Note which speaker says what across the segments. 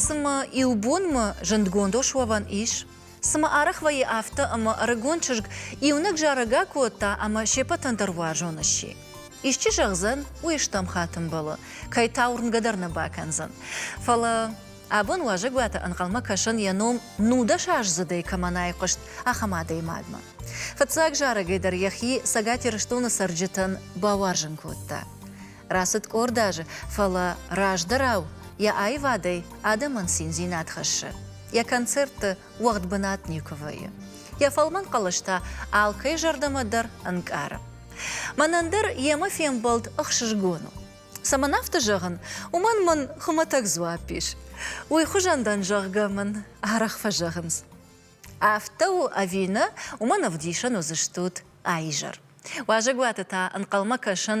Speaker 1: Цымӕ иубонмӕ зындгонд ос уӕвӕн ис? Цымӕ арӕх вӕййы афтӕ, ӕмӕ ӕрыгон чызг иунӕг зарӕгӕ кодта ӕмӕ се ппӕтӕн дӕр уарзон сси? Исчи зӕгъдзӕн, уый стӕм хатын бӕлы, кӕй та уырнгӕ дӕр нӕ бакӕндзӕн. Фӕлӕ абон уазӕгуаты ӕнхъӕлмӕ кӕсӕн йӕ ном нудӕсаздзыдӕй кӕмӕн айхъуыст, ахӕм адӕймагмӕ. Фыццаг зарӕгӕй дӕр йӕхи Цӕгат Ирыстоны цӕрджытӕн бауарзын кодта. Рацыд къорд азы, фӕлӕ раздӕрау йӕ аивадӕй адӕмӕн циндзинад хӕссы. Йӕ концертты уӕгъд бынат никуы вӕййы. Йӕ фӕлмӕн хъӕлӕс та алкӕй зӕрдӕмӕ дӕр ӕнкъары. Мӕнӕн дӕр йемӕ фембӕлд ӕхсызгон у. Цӕмӕн афтӕ зӕгъын, уымӕн мын хуымӕтӕг дзуапп ис. Уый хуызӕн дӕн, зӕгъгӕ, мын арӕх фӕзӕгъынц. Афтӕ у ӕви нӕ, уымӕн ӕвдисӕн уыдзыстут а изӕр. Уазӕгуаты та ӕнхъӕлмӕ кӕсын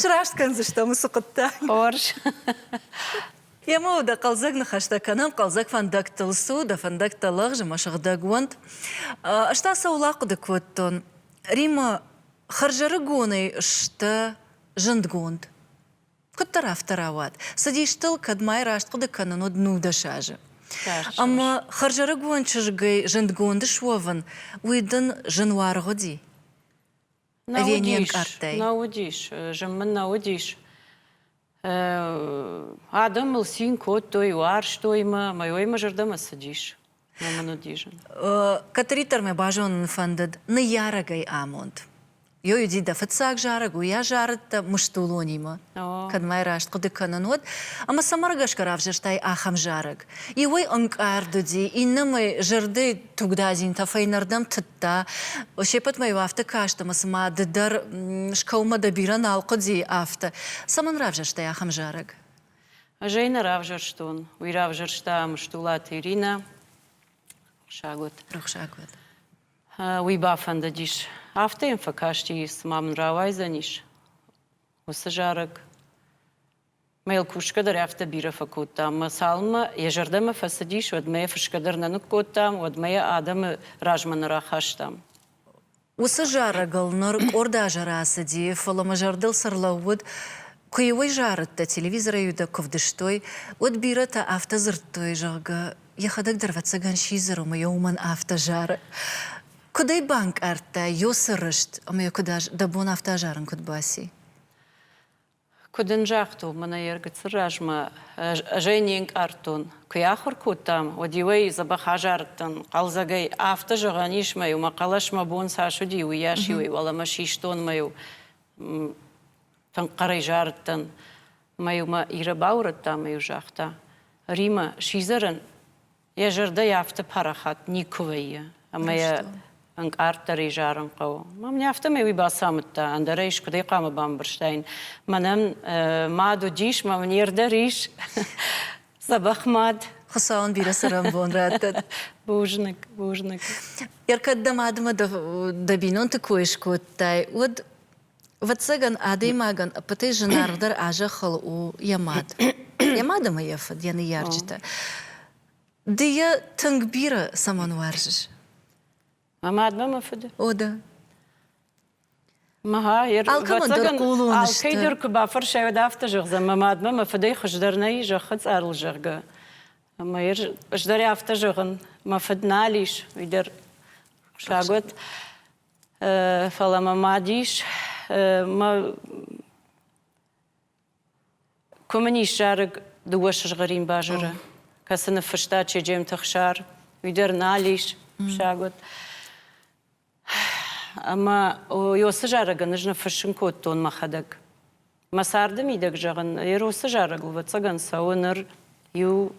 Speaker 1: Сраст кӕндзыстӕм уыцы хъуыддаг. Хорз. Емӕ дӕ хъӕлдзӕг ныхӕстӕ кӕнӕм, хъӕлдзӕг фӕндӕгтыл цу, дӕ фӕндӕгтӕ лӕгъз ӕмӕ сыгъдӕг уӕнт. Ӕз та сӕ улахъуыды кодтон. Риммӕ, хӕрзӕрыгонӕй сдӕ зындгонд. Куыддӕр афтӕ рауад, цыдистыл кӕдмӕй раст хъуыды кӕнын уыд нудӕс азы. Ӕмӕ хӕрзӕрыгон чызгӕй зындгонд суӕвын, уый дын зын уаргъ уыди? Нӕ ӕви не уыдис, ӕнкъардтай?
Speaker 2: Нӕ уыдис, зын мын нӕ уыдис. Адӕм мыл цин кодтой, уарзтой мӕ, ӕмӕ уый мӕ зӕрдӕмӕ цыдис. Ном мын уыдис зын.
Speaker 1: Кӕддӕриддӕр мӕ базонын фӕндыд ныййарӕгӕй амонд. Ёй уыди дӕ фыццаг зарӕг, уый азарыд дӕ мыстулонимӕ. Кӕд мӕ раст хъуыды кӕнын, уӕд. Ӕмӕ цӕмӕ ргӕсгӕ равзӕрстай ахӕм зарӕг? Иуӕй ӕнкъард уыди, иннӕмӕй зӕрдӕ тугдадзинтӕ фӕйнӕрдӕм тыдта. Се ппӕтмӕ-иу афтӕ каст, ӕмӕ цыма ды дӕр скӕуынмӕ дӕ бирӕ нал хъуыди, афтӕ. Цӕмӕн равзӕрстай ахӕм зарӕг? Ӕз ӕй нӕ
Speaker 2: равзӕрстон. Уый равзӕрста Мстулаты Иринӕ. Рухсаг уӕд. Рухсаг уӕд. Уый бафӕндыдис. Афтӕ йӕм фӕкасти, цыма мын рауайдзӕнис уыцы зарӕг. Мӕ йыл кусгӕ дӕр афтӕ бирӕ фӕкодтам. Мӕ цалынмӕ йӕ зӕрдӕмӕ фӕцыдис, уӕдмӕ йӕ фысгӕ дӕр нӕ ныккодтам, уӕдмӕ йӕ адӕмы размӕ нӕ рахастам. Уыцы
Speaker 1: зарӕгыл ныр къорд азы рацыди, фӕлӕ мӕ зӕрдыл цы рлӕууыд, куы-иу ӕй зарыдтӕ, телевизорӕй-иу дӕ куы вдыстой, уӕд бирӕтӕ афтӕ дзырдтой, зӕгъгӕ, йӕхӕдӕг дӕр ӕвӕццӕгӕн сидзӕр, ӕмӕ йӕ уымӕн афтӕ зары. Куыд ӕй банкъардтай, ёсы рыст ӕмӕ йӕ куыд, дӕ бон афтӕ азарын куыд баци?
Speaker 2: Куы дын загътон, мӕнӕ йе ргыцыр размӕ ӕз ӕй не нкъардтон. Куы йӕ ахуыр кодтам, уӕд-иу ӕй дзӕбӕх азардтӕн. Хъӕлдзӕгӕй афтӕ зӕгъӕн ис мӕ иу, мӕ хъӕлӕс мӕ бон цас уыди, уыйас-иу ӕй уӕлӕмӕ систон мӕ-иу тынг хъӕрӕй зарыдтӕн. Мӕ-иу мӕ Ирӕ баурӕдта мӕ-иу загъта: Римӕ, сидзӕрӕн Йӕ зӕрдӕ йӕ афтӕ парахат никуы вӕййы, ӕмӕ йӕ ӕнкъарддӕр изарын хъӕуы. Мам не афтӕмӕй уый бацамыдта, ӕндӕр ӕй скуыдӕй хъуамӕ бамбӕрстаин. Мӕнӕн мад уыдис, мӕ мын йе рдӕр ис дзӕбӕх мад. Хуыцауӕн
Speaker 1: бирӕ цӕрӕнбон раттӕд. Бузныг,
Speaker 2: бузныг.
Speaker 1: Ӕркӕд дӕ мадмӕ дӕ бинонты кой скодтай, уӕд Ӕвӕццӕгӕн, адӕймагӕн ӕппӕтӕй зынаргъдӕр а зӕххыл у йӕ мад. Йӕ мад ӕмӕ йӕ фыд, йӕ ныййарджытӕ. Ды йӕ тынг бирӕ цӕмӕн уарзыс? Мӕ
Speaker 2: мадмӕ, мӕ фыды. О,
Speaker 1: да.
Speaker 2: Алкӕмӕндӕр хъулон
Speaker 1: сты. Алкӕйдӕр куы бафӕрсай,
Speaker 2: уӕд афтӕ зӕгъдзӕн, мӕ мадмӕ, мӕ фыдӕй хуыздӕр нӕй зӕххы цъарыл, зӕгъгӕ. Ӕмӕ ӕз дӕр афтӕ зӕгъын, мӕ фыд нал ис, уый дӕр хъуысаг уӕд. Фӕлӕ мӕ мад ис. Мӕ Куы мын ис зарӕг дыууӕ сызгъӕрин базыры, кӕцы ныффыста Чеджемты Хсар, уый дӕр нал ис фыссӕг уыд. Ӕмӕ уыцы зарӕгӕн ӕз ныффыссын кодтон мӕхӕдӕг. Мӕ царды мидӕг зӕгъын, Эросы зарӕг, ӕвӕццӕгӕн, цӕуы ныр иу,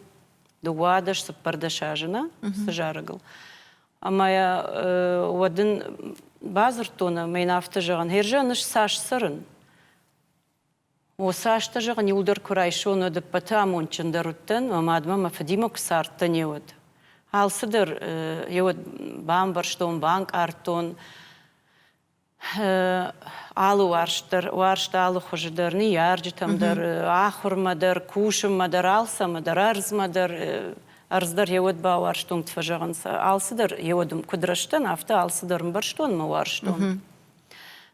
Speaker 2: дыууадӕс, цыппӕрдӕс азы нӕ уыцы зарӕгыл. Ӕмӕ уӕд ын бадзырдтон ӕмӕ йын афтӕ зӕгъын, Херза, ныфс цас цӕрын? О, цас дӕ зӕгъын, иу дӕр куы райсон, уӕд ӕппӕты амондджындӕр уыдтӕн, мӕ мадмӕ мӕ фыдимӕ куы цардтӕн, йе уӕд. Алцыдӕр йе уӕд бамбӕрстон, банкъардтон. Алы уарзт дӕр, уарзт алы хуызы дӕр, ныййарджытӕм дӕр, ахуырмӕ дӕр, кусынмӕ дӕр, алцӕмӕ дӕр, ӕрдзмӕ дӕр, ӕрдз дӕр йе уӕд бауарзтон, куыд фӕзӕгъын сӕ, алцыдӕр йе уӕд куыд рӕзтӕн, афтӕ алцыдӕр ӕмбӕрстонмӕ уарзтон.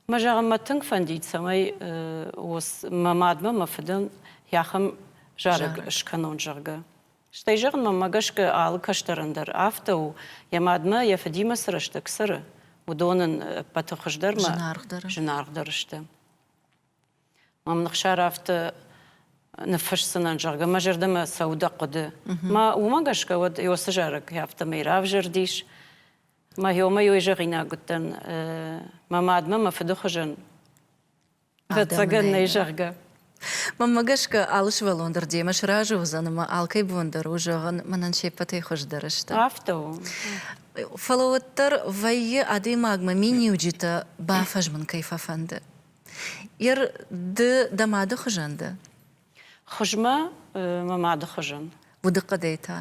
Speaker 2: Мӕ зӕгъын мӕ тынг фӕндид, цӕмӕй мӕ мадмӕ, мӕ фыдӕн йӕ ахӕм зарӕг скӕнон, зӕгъгӕ. Стӕй, зӕгъын, мӕнмӕ гӕсгӕ алы кӕстӕрӕн дӕр афтӕ у, йӕ мадмӕ, йӕ фыдимӕ цы рӕстӕг цӕры, уыдон ын ӕппӕты хуыздӕрмӕ зынаргъдӕр, зынаргъдӕр сты. Мӕм Ныхсар афтӕ ныффысдзынӕн, зӕгъгӕ, мӕ зӕрдӕмӕ цӕуы дӕ хъуыды. Мӕ уымӕ гӕсгӕ уӕд Иосы зарӕг афтӕмӕй равзӕрдис. Мӕ ёмӕ-ёй зӕгъинаг уыдтӕн мӕ мадмӕ мӕ фыды хуызӕн Ӕцӕгӕн нӕй, зӕгъгӕ. Мӕнмӕ гӕсгӕ
Speaker 1: алы сывӕллон дӕр демӕ сразы уыдзӕн ӕмӕ алкӕй бон дӕр у зӕгъын, мӕнӕн се ппӕтӕй хуыздӕр сты. Афтӕ у.
Speaker 2: Фӕлӕ
Speaker 1: уӕддӕр вӕййы, адӕймагмӕ миниуджытӕ бафӕзмын кӕй фӕфӕнды. Ер, ды дӕ мады хуызӕн дӕ? Хуызмӕ,
Speaker 2: мӕ мады хуызӕн. Удыхъӕдӕй та?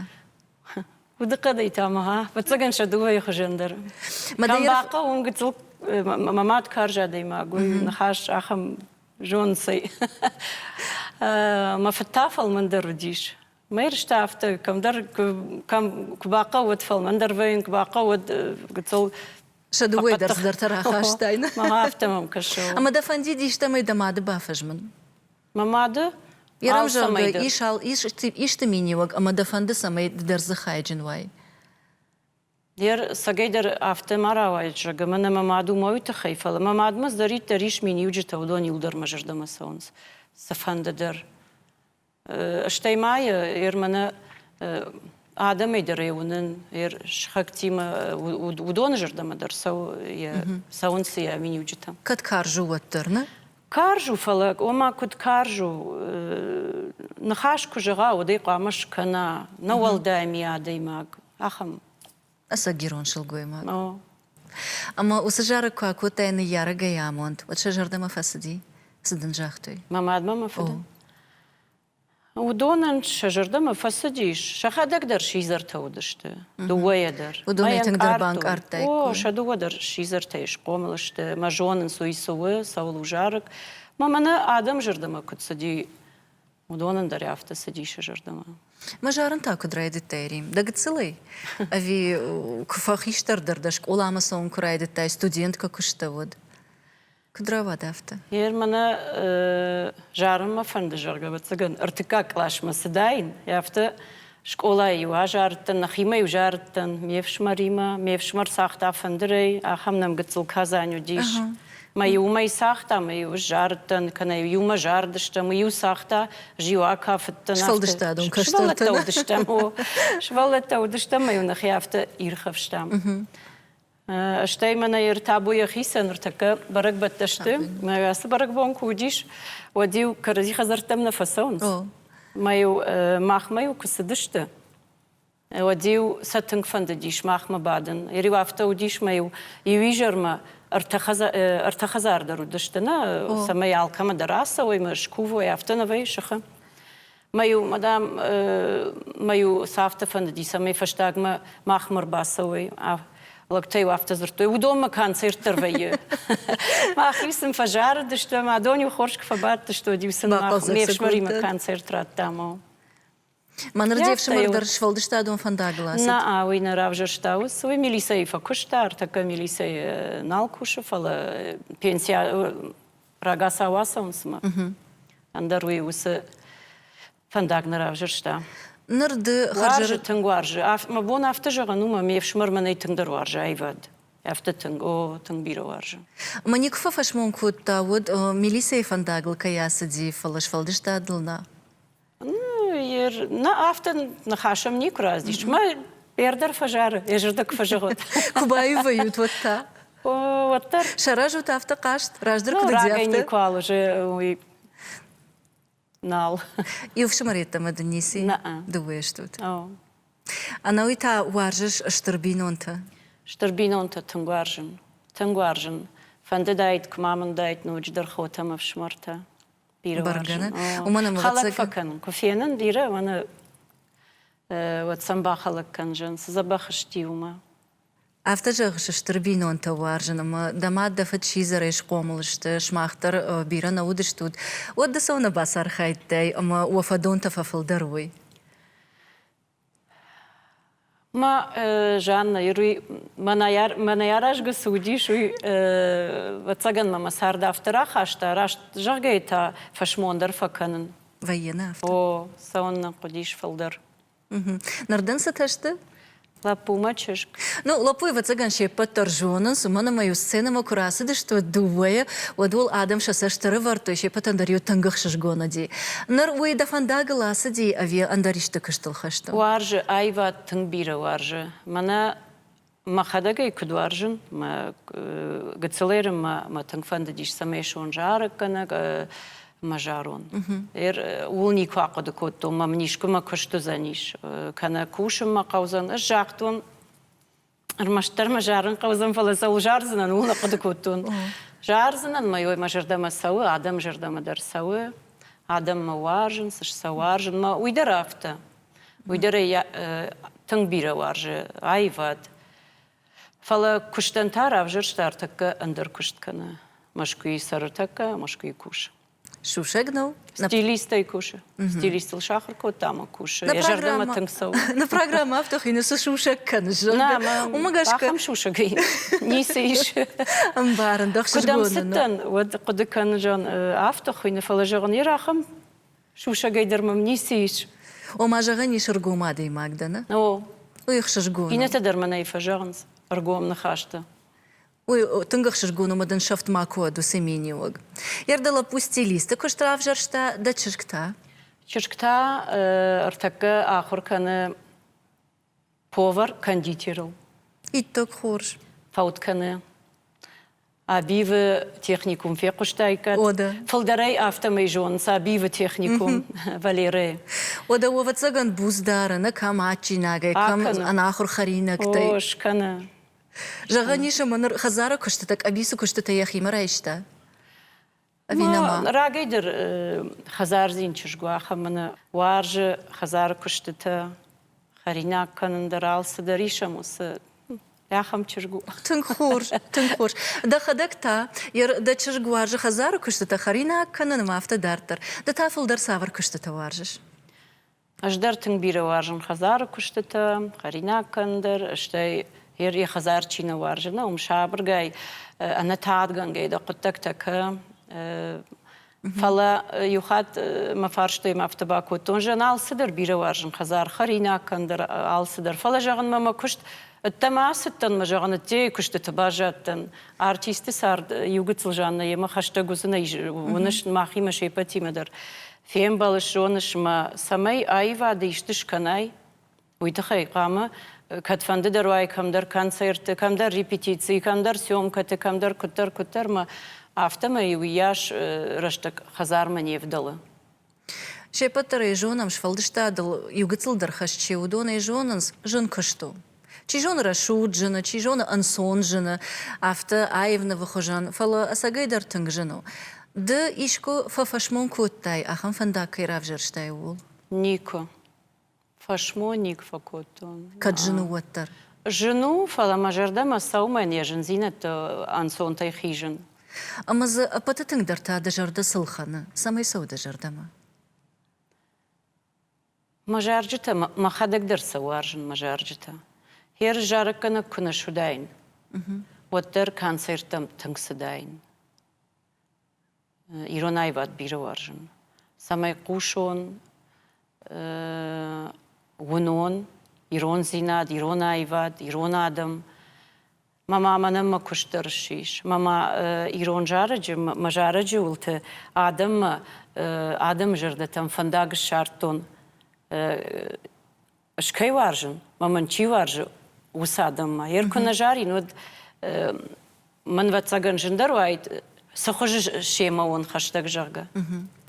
Speaker 2: Удыхъӕдӕй та мӕ, гъа, фӕццӕгӕн сӕ дыууӕйы хуызӕн дӕр. Бахъӕуын гыццыл мӕ мад карз адӕймаг у, ныхас ахӕм зонцӕй. Мӕ фыд та фӕлмӕндӕр уыдис. Мӕ рыстӕ афтӕ, кӕмдӕр кӕм куы бахъӕуӕд фӕлмӕндӕр вӕййын, куы бахъӕуӕд гыццыл Сӕ дыууӕйы
Speaker 1: дӕр цыдӕртӕ рахастайнӕ. Мӕ афтӕ мӕм кӕсы.
Speaker 2: Ӕмӕ дӕ фӕндид истӕмӕй
Speaker 1: дӕ мады бафӕзмын? Мӕ мады
Speaker 2: Йӕ
Speaker 1: равзӕрды ис, исты миниуӕг ӕмӕ дӕ фӕнды, цӕмӕй ды дӕр дзы хайджын уай?
Speaker 2: Йе рцӕгӕй дӕр афтӕ ма рауайӕд, зӕгъгӕ, мӕнӕ мӕ мад уымӕ уый тыххӕй, фӕлӕ мӕ мадмӕ зӕриддӕр ис миниуджытӕ, уыдон иу дӕр мӕ зӕрдӕмӕ цӕуынц цыфӕнды дӕр. Стӕй ма йӕ мӕнӕ адӕмӕй дӕр ӕй уынын, йе сыхӕгтимӕ уыдоны зӕрдӕмӕ дӕр цӕуы, цӕуынц йӕ миниуджытӕ. Кӕд карз у, уӕддӕр,
Speaker 1: нӕ? Карз у, фӕлӕ
Speaker 2: ома куыд карз у, ныхас куы зӕгъа, уӕдӕй хъуамӕ скӕна, нӕ уӕлдай ми адӕймаг, ахӕм. Ӕцӕггирон
Speaker 1: сылгоймаг. О. Ӕмӕ уыцы зарӕг куы акодтай ныййарӕгӕй амонд, уӕд сӕ зӕрдӕмӕ фӕцыди? Цы дын загътой? Мӕ мадмӕ мӕ фыды.
Speaker 2: Уыдонӕн сӕ зӕрдӕмӕ фӕцыдис, сӕхӕдӕг дӕр сидзӕртӕ уыдысты, дыууӕйӕ дӕр. Уыдонӕй тынгдӕр
Speaker 1: банкъардтаиккой. О, сӕ дыууӕ дӕр
Speaker 2: сидзӕртӕй схъомыл сты, мӕ зонынц, уый цы у, цӕуыл у зарӕг. Мӕ мӕнӕ адӕм зӕрдӕмӕ куыд цыди, уыдонӕн дӕр афтӕ цыди сӕ зӕрдӕмӕ. Мӕ зарын та
Speaker 1: куыд райдыдтай, Рим? Дӕ гыццылӕй? Ӕви куы фӕхистӕрдӕр дӕ скъоламӕ цӕуын куы райдыдтай, студенткӕ куы стӕуӕд? Куыд рауад афтӕ? Гъер мӕнӕ
Speaker 2: зарын мӕ фӕнды, зӕгъгӕ, ӕвӕццӕгӕн, ӕртыккаг классмӕ цыдаин, афтӕ скъолайы-иу азарыдтӕн, нӕхимӕ-иу зарыдтӕн ме фсымӕримӕ, ме фсымӕр цагъта фӕндырӕй, ахӕм нӕмгыццыл Казань уыдис. Мӕ-иу уымӕй цагъта, мӕ-иу сзарыдтӕн, кӕнӕ иумӕ зарыдыстӕм, мый-иу цагъта, Зиуакӕ фыдтӕн. Сфӕлдыстадон кӕстӕртӕ
Speaker 1: уыдыстӕм,
Speaker 2: о. Сывӕллӕттӕ уыдыстӕм, мӕ-иу нӕхи афтӕ ирхӕфстам. Стӕй мӕнӕ ӕртабу йӕхицӕн ныртӕккӕ бӕрӕгбӕттӕ сты. Мӕ ацы бӕрӕгбон куы уыдис, уӕд-иу кӕрӕдзи хӕдзӕрттӕм нӕ фӕцӕуынц. Мӕ-иу махмӕ-иу куы цыдысты, уӕд-иу сӕ тынг фӕндыдис махмӕ бадын. Ӕри-иу афтӕ уыдис мӕ-иу иу изӕрмӕ ӕртӕ хӕдзар дӕр уыдысты, нӕ, цӕмӕй алкӕмӕ дӕр ацӕуой, мӕ скувой, афтӕ нӕ вӕййы сыхы. Мӕ-иу, мадам, мӕ-иу цавты фӕндыди, цӕмӕй фӕстагмӕ махмӕ ӕрбацӕуой. Лӕгтӕ-иу афтӕ дзырдтой, уыдонмӕ концерт дӕр вӕййы. Мӕхи сын фӕзарыдысты, ӕмӕ адон-иу хорз куы фӕбадтыстӕуыд, сын ме фсымӕримӕ концерт радтам. Мӕныр
Speaker 1: де фсымӕр дӕр сфӕлдыстадон фӕндагыл ацыд? Нӕ, уый нӕ
Speaker 2: равзӕрста ус, уый милицӕйы фӕкуыста, ӕртӕккӕ милицӕйы нал кусы, фӕлӕ пенсия рагацау ацӕуынц мӕ ӕндӕр уый уыцы фӕндаг нӕ равзӕрста ныр ды
Speaker 1: хӕрзы тынг
Speaker 2: уарзы мӕ бон афтӕ зӕгъын у мӕ ме фсымӕр мӕнӕй тынгдӕр уарзы аивад афтӕ тынг о тынг бирӕ уарзы мӕ никуы фӕфӕсмон
Speaker 1: кодта уӕд милицӕйы фӕндагыл кӕй ацыди фӕлӕ сфӕлдыстадыл нӕ
Speaker 2: Нӕ афтӕ ныхасӕм никуы раздис. Мӕ ӕрдӕр фӕзары, ӕзӕрдӕг фӕзыгъуыд. Куы баивӕйут
Speaker 1: уӕд та? Уӕддӕр.
Speaker 2: Саразут афтӕ хъазт,
Speaker 1: раздӕр куыд уыдзӕфтӕ? Ну, никуал уже
Speaker 2: уый нал. Иу
Speaker 1: фсымӕр йеддӕмӕ дын ници? Нӕ. Дыууӕ стут? Ӕнӕуый та уарзыс стыр бинонтӕ? Стыр бинонтӕ
Speaker 2: тынг уарзын. Тынг уарзын. Фӕндыдаид, куы ма мын уыдаид ноджыдӕр хотӕ ӕмӕ фсымӕртӕ. бӕргӕ нӕ уымӕн ӕмӕ хӕлӕг фӕкӕнын куы фенын бирӕ мӕнӕ уӕд сӕм бахӕлӕг кӕндзӕн цы дзӕбӕх сти уымӕ Афтӕ
Speaker 1: зӕгъыс, стыр бинонтӕ уарзын ӕмӕ дӕ мад дӕ фыд сидзӕрӕй схъомыл сты, сымах дӕр бирӕ нӕ уыдыстут, уӕд ды цӕуылнӕ бацархайдтай ӕмӕ уӕ фӕдонтӕ фӕфылдӕр уой?
Speaker 2: Ма Жанна ируй мӕнӕ аразгӕ цы уыдис, уый ӕвӕццӕгӕн мӕ мӕ цард афтӕ рахаста, раст зӕгъгӕйӕ та фӕсмон дӕр фӕкӕнын. Вӕййы афтӕ? О,
Speaker 1: цӕуын нын
Speaker 2: хъуыдис фылдӕр. Ныр
Speaker 1: дын цытӕ сты? Лӕппу мӕ
Speaker 2: чызг. Ну, лӕппу, ӕвӕццӕгӕн
Speaker 1: се ппӕт дӕр зонынц, уымӕн ӕмӕ-иу сценӕмӕ куы рацыдысты дыууӕйӕ, уӕд уыл адӕм сӕ цӕст ӕрӕвӕрдтой, се ппӕтӕн дӕр-иу тынг ӕхсызгон уыди. Ныр уый дӕ фӕндагыл ацыди ӕви ӕндӕр исты куыстыл хӕсты? Уарзы, аивад
Speaker 2: тынг бирӕ уарзы. Мӕнӕ мӕхӕдӕг ӕй куыд уарзын, мӕ гыццылӕй мӕ мӕ тынг фӕндыдис, цӕмӕй суон зарӕггӕнӕг мӕ зӕронд. Ууыл никуы ахъуыды кодтон, мӕ мын искуы мӕ куыст уыдзӕнис, кӕнӕ кусын мӕ хъӕудзӕн. Ӕз загътон, Ӕрмӕстдӕр мӕ зарын хъӕудзӕн, фӕлӕ цӕуыл зардзынӕн, ууыл ахъуыды кодтон. Зардзынӕн мӕ ой, мӕ зӕрдӕмӕ цӕуы, адӕмы зӕрдӕмӕ дӕр цӕуы, адӕммӕ уарзын, цы сӕ уарзын, мӕ уый дӕр афтӕ. Уый дӕр ӕй тынг бирӕ уарзы аивад. Фӕлӕ куыстӕн та равзӕрста ӕртӕккӕ ӕндӕр куыст кӕны. Мӕскуыйы цӕры тӕккӕ, Мӕскуыйы кус. Сусӕг нӕу?
Speaker 1: Стилистӕй
Speaker 2: кусы. Стилистыл сахар кодта ӕмӕ кусы. Йӕ зӕрдӕмӕ тынг цӕуы. Нӕ программӕ афтӕ
Speaker 1: хины цы сусӕг кӕны, зӕгъгӕ. Уымӕ гӕсгӕ ахӕм
Speaker 2: сусӕг ницы ис. Ӕмбарын, дӕ
Speaker 1: хсызгон цыдтӕн,
Speaker 2: уӕд
Speaker 1: хъуыды
Speaker 2: кӕнын, зӕгъын, афтӕ хуыйны, фӕлӕ зӕгъын, ер ахӕм сусӕгӕй дӕр мӕм ницы ис. Ома, зӕгъӕн ис,
Speaker 1: ӕргом адӕймаг дӕ, нӕ? О. Уый
Speaker 2: хсызгон.
Speaker 1: Иннӕтӕ дӕр мӕнӕй
Speaker 2: фӕзӕгъынц ӕргом ныхӕсты. Уый
Speaker 1: тынг ӕхсызгон у, мадынсӕфт ма куы уӕд уыцы миниуӕг. Йӕ рдӕ лӕппу стилисты куыст равзӕрста, дӕ чызг та? Чызг та
Speaker 2: ӕртӕккӕ ахуыр кӕны повар кондитерыл. Иттӕг
Speaker 1: хорз. Фӕуд кӕны.
Speaker 2: Абивы техникум фехъуыстаиккат? Ода. Фылдӕрӕй
Speaker 1: афтӕмӕй
Speaker 2: зонынц Абивы техникум Валерӕйы. Ода,
Speaker 1: ӕвӕццӕгӕн, буц дары, нӕ кӕм адджинагӕй, кӕм ӕнахуыр хӕринӕгтӕй. О, скӕны.
Speaker 2: Зӕгъӕн
Speaker 1: ис ӕмӕ ныр хӕдзары куыстытӕ, къӕбицы куыстытӕ йӕхимӕ райста? Ӕви нӕма? Рагӕй дӕр
Speaker 2: хӕдзардзин чызг у, ахӕм ын уарзы хӕдзары куыстытӕ, хӕринаг кӕнын дӕр, алцыдӕр исӕм уыцы Ахӕм чызг у. Тынг хорз,
Speaker 1: тынг хорз. Дӕхӕдӕг та, дӕ чызг уарзы хӕдзары куыстытӕ, хӕринаг кӕнын ӕмӕ афтӕ дарддӕр. Ды та фылдӕр цавӕр куыстытӕ уарзыс? Ӕз дӕр
Speaker 2: тынг бирӕ уарзын хӕдзары куыстытӕ, хӕринаг кӕн дӕр, стӕй йӕ хӕдзар чи нӕ уарзы, нӕ уым сабыргай, ӕнӕтадгӕнгӕй дӕ хъуыддӕгтӕ кӕ. Фӕлӕ иу хатт мӕ фарстой мӕ афтӕ бакодтон, зӕн алцыдӕр бирӕ уарзын хӕдзар, хӕринаг кӕн дӕр алцыдӕр. Фӕлӕ зӕгъынмӕ мӕ куыст ӕддӕмӕ ацыдтӕн мӕ зӕгъын ӕддейы куыстыты баззадтӕн. Артисты цард иу гыццыл Жаннӕ йемӕ хӕстӕг уыдзынӕй уыныс мӕхимӕ се ппӕтимӕ дӕр. Фембӕлыс, зоныс мӕ, цӕмӕй аивады исты скӕнай? Уый тыххӕй хъуамӕ, кӕдфӕнды дӕр уай кӕмдӕр концертты, кӕмдӕр репетицийы, кӕмдӕр съемкӕты, кӕмдӕр куыддӕр, куыддӕрмӕ, афтӕмӕй уыйас рӕстӕг хӕдзармӕ не вдӕлы. Се
Speaker 1: ппӕт дӕр ӕй зонӕм, сфӕлдыстадыл иугыцыл дӕр хӕс чи у, уыдон ӕй зонынц, зын куыст у. Чи зоны рӕсугъд зыны, чи зоны ӕнцон зыны, афтӕ аив нывы хуызӕн, фӕлӕ ӕцӕгӕй дӕр тынг зын у. Ды искуы фӕфӕсмон кодтай, ахӕм фӕндаг кӕй равзӕрстай, ууыл? Никуы.
Speaker 2: Фӕсмонник фӕкодтон. Кӕд зын у, уӕддӕр?
Speaker 1: Зын у, фӕлӕ
Speaker 2: мӕ зӕрдӕмӕ сӕумӕ не зындзинӕдты ӕнцонтӕй хизын. Ӕмӕ дзы
Speaker 1: ӕппӕты тынгдӕр та дӕ зӕрдӕ цы лхӕны? Цӕмӕй цӕуы дӕ зӕрдӕмӕ?
Speaker 2: Мӕ зарджытӕ мӕхӕдӕг дӕр сӕ уарзын, мӕ зарджытӕ. Херыс зарӕггӕнӕг куы нӕ суыдаин, уӕддӕр концерттӕм тынг цыдаин. Ирон аивад бирӕ уарзын, цӕмӕй хъусон, уынон, ирондзинад, ирон аивад, ирон адӕм Мамӕ мӕнӕн мӕ куыст дӕр ссис. Мамӕ ирон зарӕджы, мӕ зарӕджы уылты адӕммӕ, адӕмы зӕрдӕтӕм фӕндаг ссардтон. Ӕз кӕй уарзын, мӕ мын чи уарзы, уыцы адӕммӕ. Йӕ куы нӕ зарин, уӕд мӕн ӕвӕццӕгӕн зындӕр уаид, цы хуызы семӕ уон хӕстӕг, зӕгъгӕ.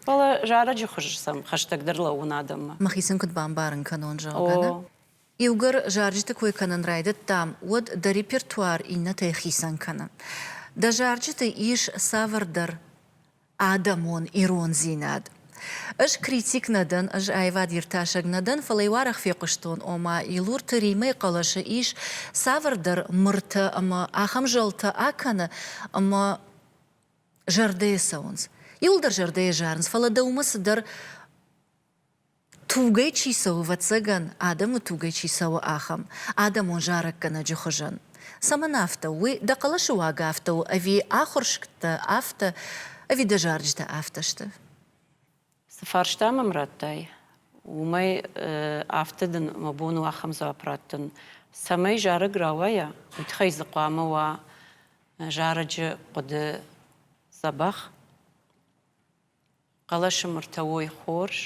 Speaker 2: Фӕлӕ зарӕджы хуыз сӕм хӕстӕгдӕр лӕууын адӕммӕ. Мӕхицӕн куыд бамбарын
Speaker 1: кӕнон, зӕгъгӕ, нӕ? Иугӕр зарджыты кой кӕнын райдыдтам, уӕд дӕ репертуар иннӕтӕй хицӕн кӕны. Дӕ зарджыты ис цавӕрдӕр адӕмон ирондзинад. Ӕз критик нӕ дӕн, ӕз аивад-иртасӕг нӕ дӕн, фӕлӕ иу арӕх фехъуыстон, ома Илурты Римӕйы хъӕлӕсы ис цавӕрдӕр мыртӕ ӕмӕ ахӕм зӕлтӕ акӕны, ӕмӕ зӕрдӕйы цӕуынц. Иуылдӕр зӕрдӕйы зарынц, фӕлӕ дӕумӕ цыдӕр Тугӕй чи цӕуы, ӕвӕццӕгӕн, адӕмы тугӕй чи цӕуы, ахӕм адӕмон зарӕггӕнӕджы хуызӕн. Цӕмӕн афтӕ у, уый дӕ хъӕлӕсы уаг афтӕ у, ӕви ахуырсгтӕ афтӕ, ӕви дӕ зарджытӕ афтӕ сты? Цы
Speaker 2: фарста мӕм радтай, уымӕй афтӕ дын мӕ бон у ахӕм дзуапп раттын, цӕмӕй зарӕг рауайа, уый тыххӕй дзы хъуамӕ уа зарӕджы хъуыды дзӕбӕх. хъӕлӕсы мыртӕ уой хорз,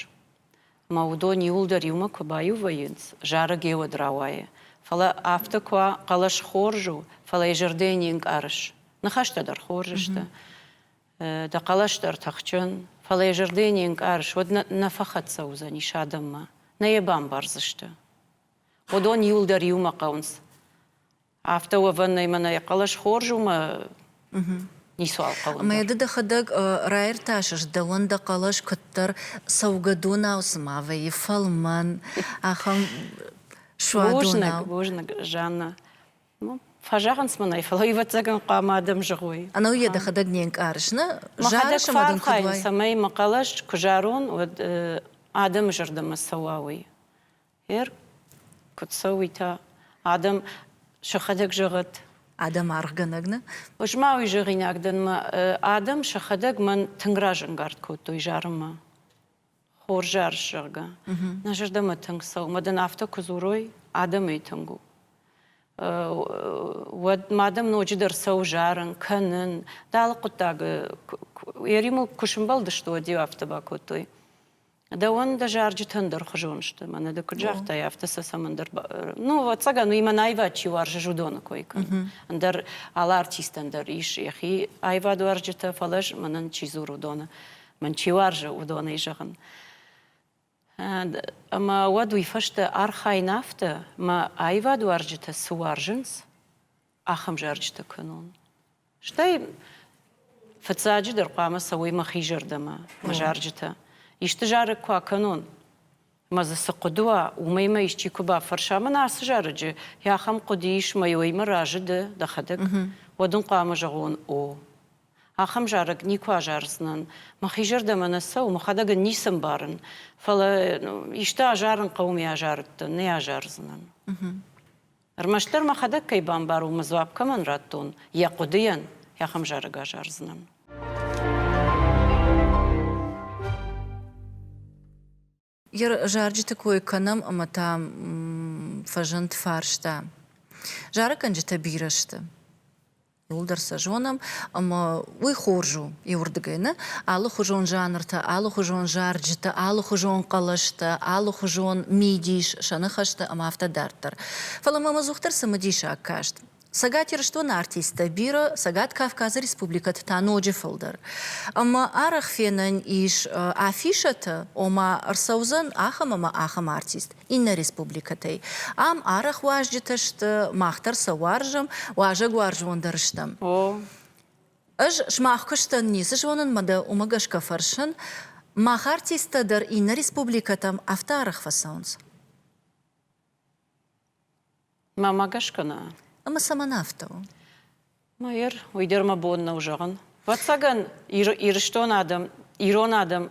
Speaker 2: ӕмӕ уыдон иуылдӕр иумӕ куы баиу вӕййынц, зарӕг ӕй уӕд рауайы. Фӕлӕ афтӕ куы уа, хъӕлӕс хорз у, фӕлӕ йӕ зӕрдӕйы не нкъарыс. Ныхӕстӕ дӕр хорз сты. Дӕ хъӕлӕс дӕр тыхджын, фӕлӕ йӕ зӕрдӕйы не нкъарыс, уӕд нӕ фӕхӕццӕ уыдзӕнис адӕммӕ, нӕ йӕ бамбардзысты. Уыдон иуылдӕр иумӕ хъӕуынц. Афтӕ уӕвӕн нӕй, мӕнӕй хъӕлӕс хорз у мӕ ницуал хъӕуы. Ӕмӕ ды дӕхӕдӕг
Speaker 1: раиртасыс дӕуӕн дӕ хъӕлӕс куыддӕр цӕугӕдонау цыма вӕййы фӕлмӕн, ахӕм суадонау. Бузныг, бузныг,
Speaker 2: Жанна. Фӕзӕгъынц мын ӕй, фӕлӕ ӕвӕццӕгӕн хъуамӕ адӕм зӕгъой. Ӕнӕу йӕ дӕхӕдӕг не
Speaker 1: нкъарыс, нӕ? Мӕхӕдӕг
Speaker 2: фӕархайын,
Speaker 1: цӕмӕй мӕ
Speaker 2: хъӕлӕс куы зарон, уӕд адӕмы зӕрдӕмӕ цӕуа, уый. Гъер, куыд цӕуы та? Адӕм сӕхӕдӕг зӕгъӕд. Адӕм аргъгӕнӕг
Speaker 1: нӕ? Ӕз ма уый
Speaker 2: зӕгъинаг дӕн, мӕ адӕм сӕхӕдӕг мӕн тынг разӕнгард кодтой зарынмӕ. Хорз арс, зӕгъгӕ. Нӕ зӕрдӕмӕ тынг цӕуы, мадӕн афтӕ куы дзурой, адӕмӕй тынг у. Уӕд ма адӕм ноджыдӕр цӕуы зарын, кӕнын. Дӕ алы хъуыддагы, йӕ риуыл куы сӕмбӕлдысты, уӕд-иу афтӕ бакодтой. Дӕуӕн дӕ зарджытӕн дӕр хуызон сты. Мӕнӕ ды куыд загътай, афтӕ сӕ цӕмӕндӕр. Ну, ӕцӕгӕн, уыимӕ аивад чи уарзы, уыдоны кой кӕн. Ӕндӕр алы артистӕн дӕр ис йӕхи аивадуарзджытӕ, фӕлӕ мӕнӕн чи дзур, уыдоны, мӕн чи уарзы, уыдонӕй зӕгъын. Ӕмӕ уӕд уый фӕстӕ архайын афтӕ, мӕ аивадуарзджытӕ цы уарзынц, ахӕм зарджытӕ кӕнон. Стӕй фыццаджыдӕр хъуамӕ цӕуой мӕхи зӕрдӕмӕ, мӕ зарджытӕ. Исты зарӕг куы акӕнон, мӕ дзы цы хъуыды уа, уымӕй мӕ исчи куы бафӕрса, мӕн ацы зарӕджы ахӕм хъуыды ис мӕ уӕймӕ разы ды, дӕхӕдӕг, уӕд ын хъуамӕ зӕгъон, о, ахӕм зарӕг никуы азардзынӕн, мӕхи зӕрдӕмӕ нӕ цӕуы, мӕхӕдӕг ын ницы ӕмбарын, фӕлӕ исты азарын хъӕуы, ме азарыдтӕн, нӕ азардзынӕн. Ӕрмӕстдӕр мӕхӕдӕг кӕй бамбарон мӕ дзуапп кӕмӕн радтон, йӕ хъуыдыйӕн ахӕм зарӕг азардзынӕн.
Speaker 1: Йӕ зарджыты кой кӕнӕм ӕмӕ та фӕзынд фарста. Зарӕггӕнджытӕ бирӕ сты. Уылдӕр сӕ зонӕм, ӕмӕ уый хорз у иуырдыгӕй нӕ алыхуызон жанртӕ, алыхуызон зарджытӕ, алыхуызон хъӕлӕстӕ, алыхуызон мидис, сӕ ныхӕстӕ ӕмӕ афтӕ дарддӕр. Фӕлӕ мӕм ӕдзухдӕр цымыдисаг каст. Цӕгат Ирыстоны артисттӕ бирӕ, Цӕгат Кавказы республикӕты та ноджы фылдӕр. Ӕмӕ арӕх фенӕн ис афишӕтӕ, ома ӕрцӕудзӕн ахӕм ӕмӕ ахӕм артист. иннӕ республикӕтӕй. Ам арӕх уазджытӕ сты, мах дӕр сӕ уарзӕм, уазӕгуарзон дӕр стӕм. Ӕз сымах куыстӕн ницы зонын, мӕ дӕ уымӕ гӕсгӕ фӕрсын, мах артисттӕ дӕр иннӕ республикӕтӕм афтӕ арӕх фӕцӕуынц?
Speaker 2: Мамӕ гӕсгӕ нӕ. Ӕмӕ цӕмӕн
Speaker 1: афтӕ у?
Speaker 2: Майер, уый дӕр мӕ бон нӕу зӕгъын. Вӕццӕгӕн, Ирыстон адӕм, ирон адӕм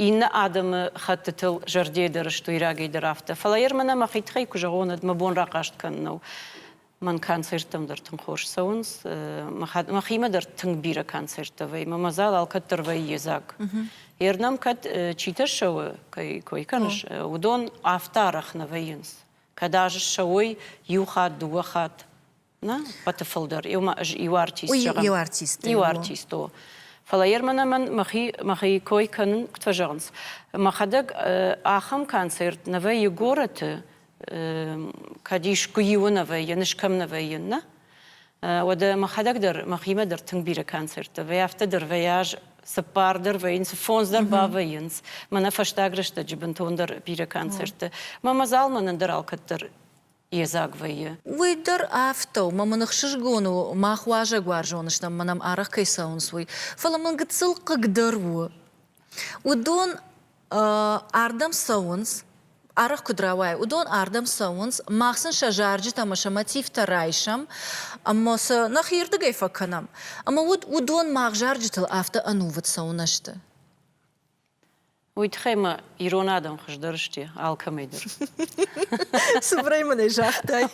Speaker 2: иннӕ адӕмы хӕттытыл зӕрдейы дӕр сты, ирагӕй дӕр афтӕ. Фӕлӕ йӕр мӕнӕ мӕхи тыххӕй куы зӕгъон, уӕд мӕ бон рахъаст кӕнын нӕу. Мӕн концерттӕм дӕр тынг хорз цӕуынц. Мӕхимӕ дӕр тынг бирӕ концерттӕ вӕййы. Мӕ мадзал алкӕддӕр вӕййы едзаг. Йе рдӕм кӕд чи тӕссӕуы, кӕй кой кӕныс, уыдон афтӕ арӕх нӕ вӕййынц. Кӕд аз ссӕуой иу хатт, дыууӕ хатт. Нӕ, хъӕды фылдӕр. Иумӕ ӕз иу артист зӕгъӕм. Иу артист. Иу артист у. Фӕлӕ йе рмӕн ӕмӕн мӕхи мӕхи кой кӕнын куыд фӕзӕгъынц, мӕхӕдӕг ахӕм концерт нӕ вӕййы горӕты, кӕд искуы иуы нӕ вӕййы, ныфс кӕм нӕ вӕййын, нӕ? Уӕдӕ мӕхӕдӕг дӕр мӕхимӕ дӕр тынг бирӕ концерттӕ вӕййы, афтӕ дӕр вӕййаз, цыппардӕр вӕййынц, фондз дӕр бавӕййынц. Мӕнӕ фӕстаг рӕстӕджы бынтондӕр бирӕ концертты. Мӕ мадзал мӕнӕн дӕр алкӕддӕр йедзаг вӕййы. Уый дӕр
Speaker 1: афтӕ у, мӕ мын ӕхсызгон у, мах уазӕгуарзон стӕм мӕ нӕм арӕх кӕй цӕуынц, уый. Фӕлӕ мын гыццыл хъыгдӕр у, уыдон Ардӕм цӕуынц, арӕх куыд рауайы, уыдон ардӕм цӕуынц, мах сын сӕ зарджытӕ ӕмӕ сӕ мотивтӕ райсӕм, ӕмӕ сӕ нӕхирдыгӕй фӕкӕнӕм. Ӕмӕ уӕд уыдон мах зарджытыл афтӕ ӕнувыд цӕуынӕ сты? Уый
Speaker 2: тыххӕй ма ирон адӕм хуыздӕр сты алкӕмӕй дӕр. Цыбырӕй
Speaker 1: мын ӕй загътай.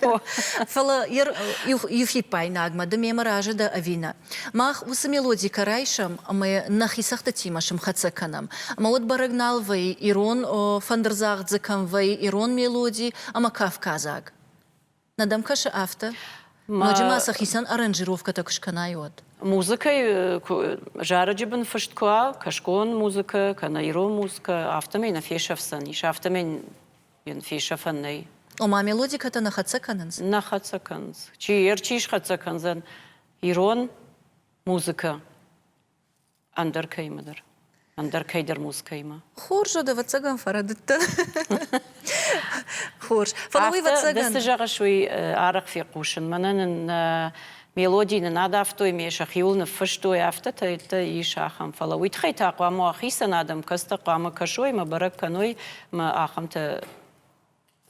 Speaker 1: Фӕлӕ йӕ иу фиппаинагмӕ ды мемӕ разы дӕ ӕви нӕ? Мах уыцы мелоди кӕ райсӕм ӕмӕ нӕхи цӕгъдытимӕ сымхӕццӕ кӕнӕм. Ӕмӕ уӕд бӕрӕг нал вӕйы, ирон фӕндырдзагъд дзы кӕм вӕйы, ирон мелоди ӕмӕ кавказаг. Нӕ дӕм кӕсы афтӕ? Ноджы ма сӕ хицӕн аранжировкӕтӕ куы скӕнай, уӕд. Музыкӕйы
Speaker 2: зарӕджы бын фыст куы уа, кӕсгон музыкӕ кӕнӕ ирон музыкӕ, афтӕмӕй нӕ фесӕфдзӕнис, афтӕмӕй йын фесӕфӕн нӕй. Ома
Speaker 1: мелодикӕтӕ нӕ хӕццӕ кӕнынц? Нӕ хӕццӕ кӕнынц.
Speaker 2: Чи йӕ рчи схӕццӕ кӕндзӕн, ирон музыкӕ ӕндӕр кӕимӕдӕр ӕндӕр кӕйдӕр музыкӕимӕ. Хорз, уӕд ӕвӕццӕгӕн
Speaker 1: фӕрӕдыдтӕ. Хорз. Фӕлӕ уый ӕвӕццӕгӕн. Цы зӕгъыс, уый
Speaker 2: арӕх фехъусын. Мӕнӕ нын нӕ мелоди нын адавтой, ме сӕхиуыл ныффыстой, афтӕтӕ ис ахӕм. Фӕлӕ уый тыххӕй та хъуамӕ уа хицӕн адӕм, кӕцытӕ хъуамӕ кӕсой мӕ бӕрӕг кӕной мӕ ахӕмтӕ.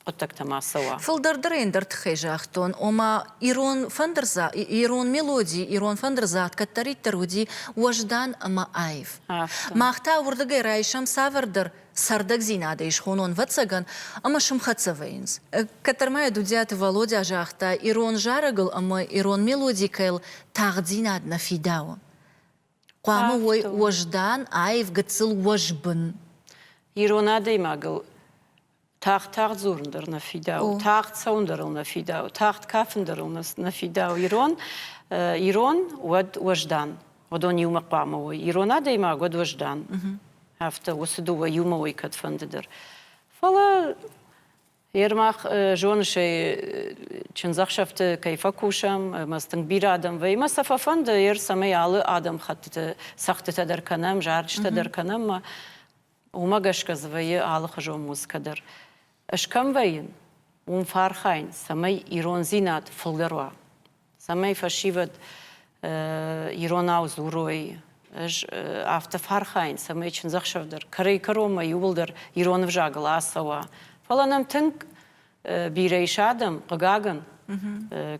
Speaker 2: хъуыддӕгтӕ ма цӕуа. Фылдӕрдӕр ӕндӕр тыххӕй
Speaker 1: загътон, ома ирон фӕндырдза, ирон мелоди, ирон фӕндырдзат кӕддӕриддӕр уыди уӕздан ӕмӕ аив. Афтӕ. Мах та уырдыгӕй райсӕм цавӕрдӕр цӕрдӕгдзинадӕй схонон вӕццӕгӕн ӕмӕ сымхӕццӕ вӕййынц. Кӕддӕр ма йӕ Дудзиаты Валодя загъта, ирон зарӕгыл ӕмӕ ирон мелодикӕйыл тагъддзинад нӕ фидауы. Хъуамӕ уой уӕздан, аив, гыццыл, уӕзбын. Ирон
Speaker 2: адӕймагыл Тагъд-тагъд дзурын дӕр нӕ фидауы, тагъд цӕуын дӕр ыл нӕ фидауы, тагъд кафын дӕр ыл нӕ фидауы. Ирон, ирон уӕд уӕздан. Уыдон иумӕ хъуамӕ уой. Ирон адӕймаг уӕд уӕздан. Афтӕ уыцы дыууӕ иумӕ уой кӕдфӕнды дӕр. Фӕлӕ Ермах зоныс ӕй, чындзӕхсӕвты кӕй фӕкусӕм, ӕмӕ цы тынг бирӕ адӕм вӕййы, ӕмӕ сӕ фӕфӕнды, ӕр цӕмӕй алы адӕм хӕттыты цӕгъдтытӕ дӕр кӕнӕм, зарджытӕ дӕр кӕнӕм, ӕмӕ Уымӕ гӕсгӕ дзы вӕййы алыхуызон музыкӕ дӕр. Ӕз кӕм вӕййын, уым фӕархайын, цӕмӕй ирондзинад фылдӕр уа, цӕмӕй фӕсивӕд иронау дзурой. Ӕз афтӕ фӕархайын, цӕмӕй чындзӕхсӕв дӕр кӕрӕй-кӕронмӕ иууылдӕр ирон ӕвзагыл ацӕуа. Фӕлӕ нӕм тынг бирӕ ис адӕм, хъыгагӕн,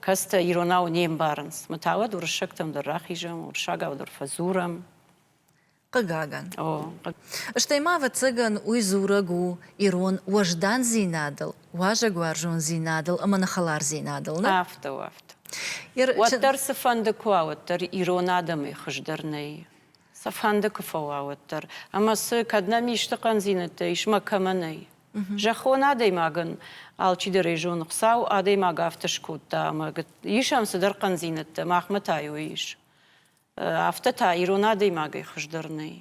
Speaker 2: кӕцытӕ иронау не мбарынц. Мы та уӕд уырыссӕгтӕм дӕр рахизӕм, уырыссагау дӕр фӕдзурӕм.
Speaker 1: Хъыгагӕн. Стӕй ма, ӕвӕццӕгӕн, уый дзурӕг у ирон уӕздандзинадыл, уазӕгуарзондзинадыл ӕмӕ ныххӕлардзинадыл нӕ? Афтӕ, афтӕ.
Speaker 2: Уӕддӕр цыфӕнды куы уа, уӕддӕр ирон адӕмӕй хуыздӕр нӕй. Цыфӕнды куы фӕуа, уӕддӕр. Ӕмӕ цы, кӕд нӕм исты хъӕндзинӕдтӕ ис мӕ кӕмӕ нӕй? Зӕххон адӕймагӕн алчидӕрӕй зоны, Хуыцау адӕймаг афтӕ скодта ӕмӕ ис ӕм цыдӕр хъӕндзинӕдтӕ, махмӕ та йой ис. Афтӕ та ирон адӕймагӕй хуыздӕр нӕй.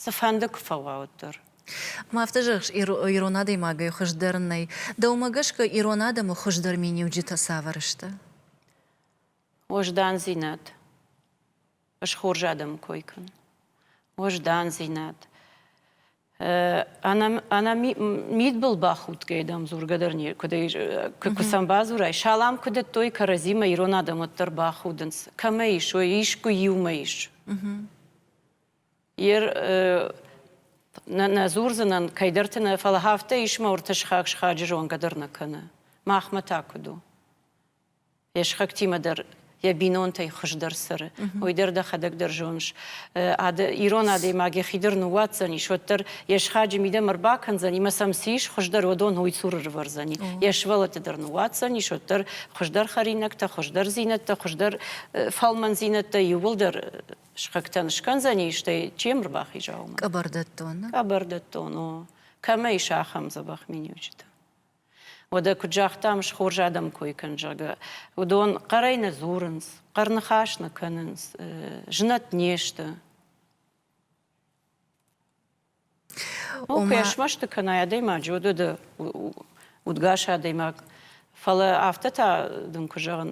Speaker 2: Цыфӕнды куы фӕуа, уӕддӕр. Ма афтӕ
Speaker 1: зӕгъыс, ирон адӕймагӕй хуыздӕр нӕй. Дӕумӕ гӕсгӕ ирон адӕмы хуыздӕр миниуджытӕ цавӕр сты?
Speaker 2: Уӕздандзинад. Ысхорз адӕмы кой кӕн. Уӕздандзинад. Ӕнӕ мидбыл бахудгӕй, дам, дзургӕ дӕр не куыд куы сӕм бадзурай. Салам куы дӕттой кӕрӕдзимӕ, ирон адӕмот дӕр бахудынц. Кӕмӕ ис, ой, искуы иумӕ ис. Йер нӕ дзурдзынӕн кӕйдӕрты нӕ, фӕлӕ афтӕ ис мӕ ортӕ сыхаг схаджы зонгӕ дӕр нӕ кӕны. Махмӕ та куыд у? Йе схӕгтимӕ дӕр йӕ бинонтӕй хуыздӕр цӕры. Уый дӕр дӕхӕдӕг дӕр зоныс. Ирон адӕймаг йӕхи дӕр ныууадздзӕнис, уӕддӕр йе схаджы мидӕм ӕрбакӕндзӕн, ӕмӕ сӕм цы ис хуыздӕр, уыдон уый цур ӕрывӕрдзӕни. Йӕ сывӕллӕтты дӕр ныууадздзӕнис, уӕддӕр хуыздӕр хӕринӕгтӕ, хуыздӕрдзинӕдтӕ, хуыздӕр фӕлмӕндзинӕдтӕ иууылдӕр схӕгтӕн скӕндзӕни, стӕй чи йӕм ӕрбахиза, уымӕ. Къӕбӕрдӕттон, нӕ? Къӕбӕрдӕттон, о. Кӕмӕ ис ахӕм дзӕбӕх миниуджытӕ? Уӕдӕ куыд загътам, схорз адӕм кой кӕн, зӕгъгӕ, уыдон хъӕрӕй нӕ дзурынц, хъӕр ныхас нӕ кӕнынц, знӕт не сты. О, куы смӕсты кӕнай адӕймаджы, уӕд уыды удгас адӕймаг. Фӕлӕ афтӕ та дын куы зӕгъын,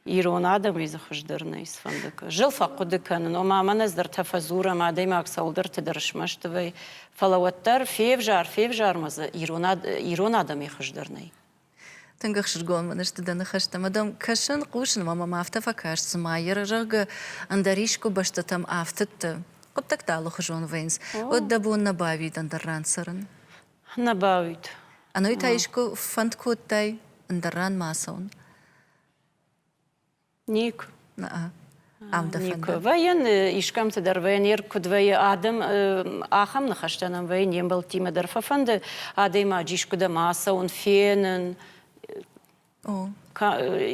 Speaker 2: Ирон адӕмӕй дзы хуыздӕр нӕй сфӕнды кӕ. Зыл фӕхъуыды кӕнын, ома мӕн ӕз дӕр тӕ фӕдзурӕм адӕймаг цӕуылдӕрты дӕр смӕсты вӕй, фӕлӕ уӕддӕр февзар, февзар ма дзы ирон, ирон адӕмӕй хуыздӕр нӕй. Тынг
Speaker 1: ӕхсызгон мын сты дӕ ныхӕстӕ, ӕмӕ дӕм кӕсын, хъусын, ӕмӕ мӕм афтӕ фӕкаст, цыма йӕ, зӕгъгӕ, ӕндӕр искуы бӕстӕтӕм афтыдты хъуыддӕгтӕ алыхуызон вӕййынц, уӕд дӕ бон нӕ бауид ӕндӕр ран цӕрын? Нӕ бауид.
Speaker 2: Ӕнӕуый та
Speaker 1: искуы фӕнд кодтай ӕндӕр ран ма ацӕуын?
Speaker 2: Ник.
Speaker 1: Ам дӕ фӕнды? Вӕййын искӕмты
Speaker 2: дӕр, вӕййын йе куыд вӕййы адӕм, ахӕм ныхӕстӕ нӕм вӕййын не мбӕлттимӕ дӕр фӕфӕнды адӕймаджы искуыдӕм ацӕуын, фенын.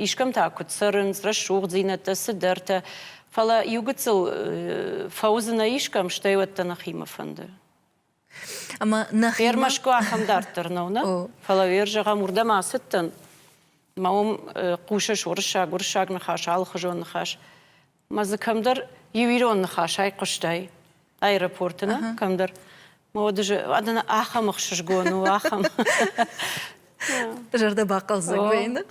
Speaker 2: Искӕмтӕ куыд цӕрынц, рӕсугъддзинӕдтӕ, цыдӕртӕ. Фӕлӕ иугыццыл фӕуыдзынӕ искӕм, стӕй уӕддӕр нӕхимӕ фӕнды.
Speaker 1: Ермашко ахӕм дарддӕр
Speaker 2: нӕу, нӕ? Фӕлӕ ер зӕгъӕм, уырдӕм ацыдтӕн, мӕ уым хъусыс уырыссаг, уырыссаг ныхас, алыхуызон ныхас. Мӕ дзы кӕмдӕр иу ирон ныхас айхъуыстай аэропорты, нӕ? Кӕмдӕр. Мӕ уды ахӕм ӕхсызгон у, ахӕм.
Speaker 1: Зӕрдӕ бахъӕлдзӕг вӕйны.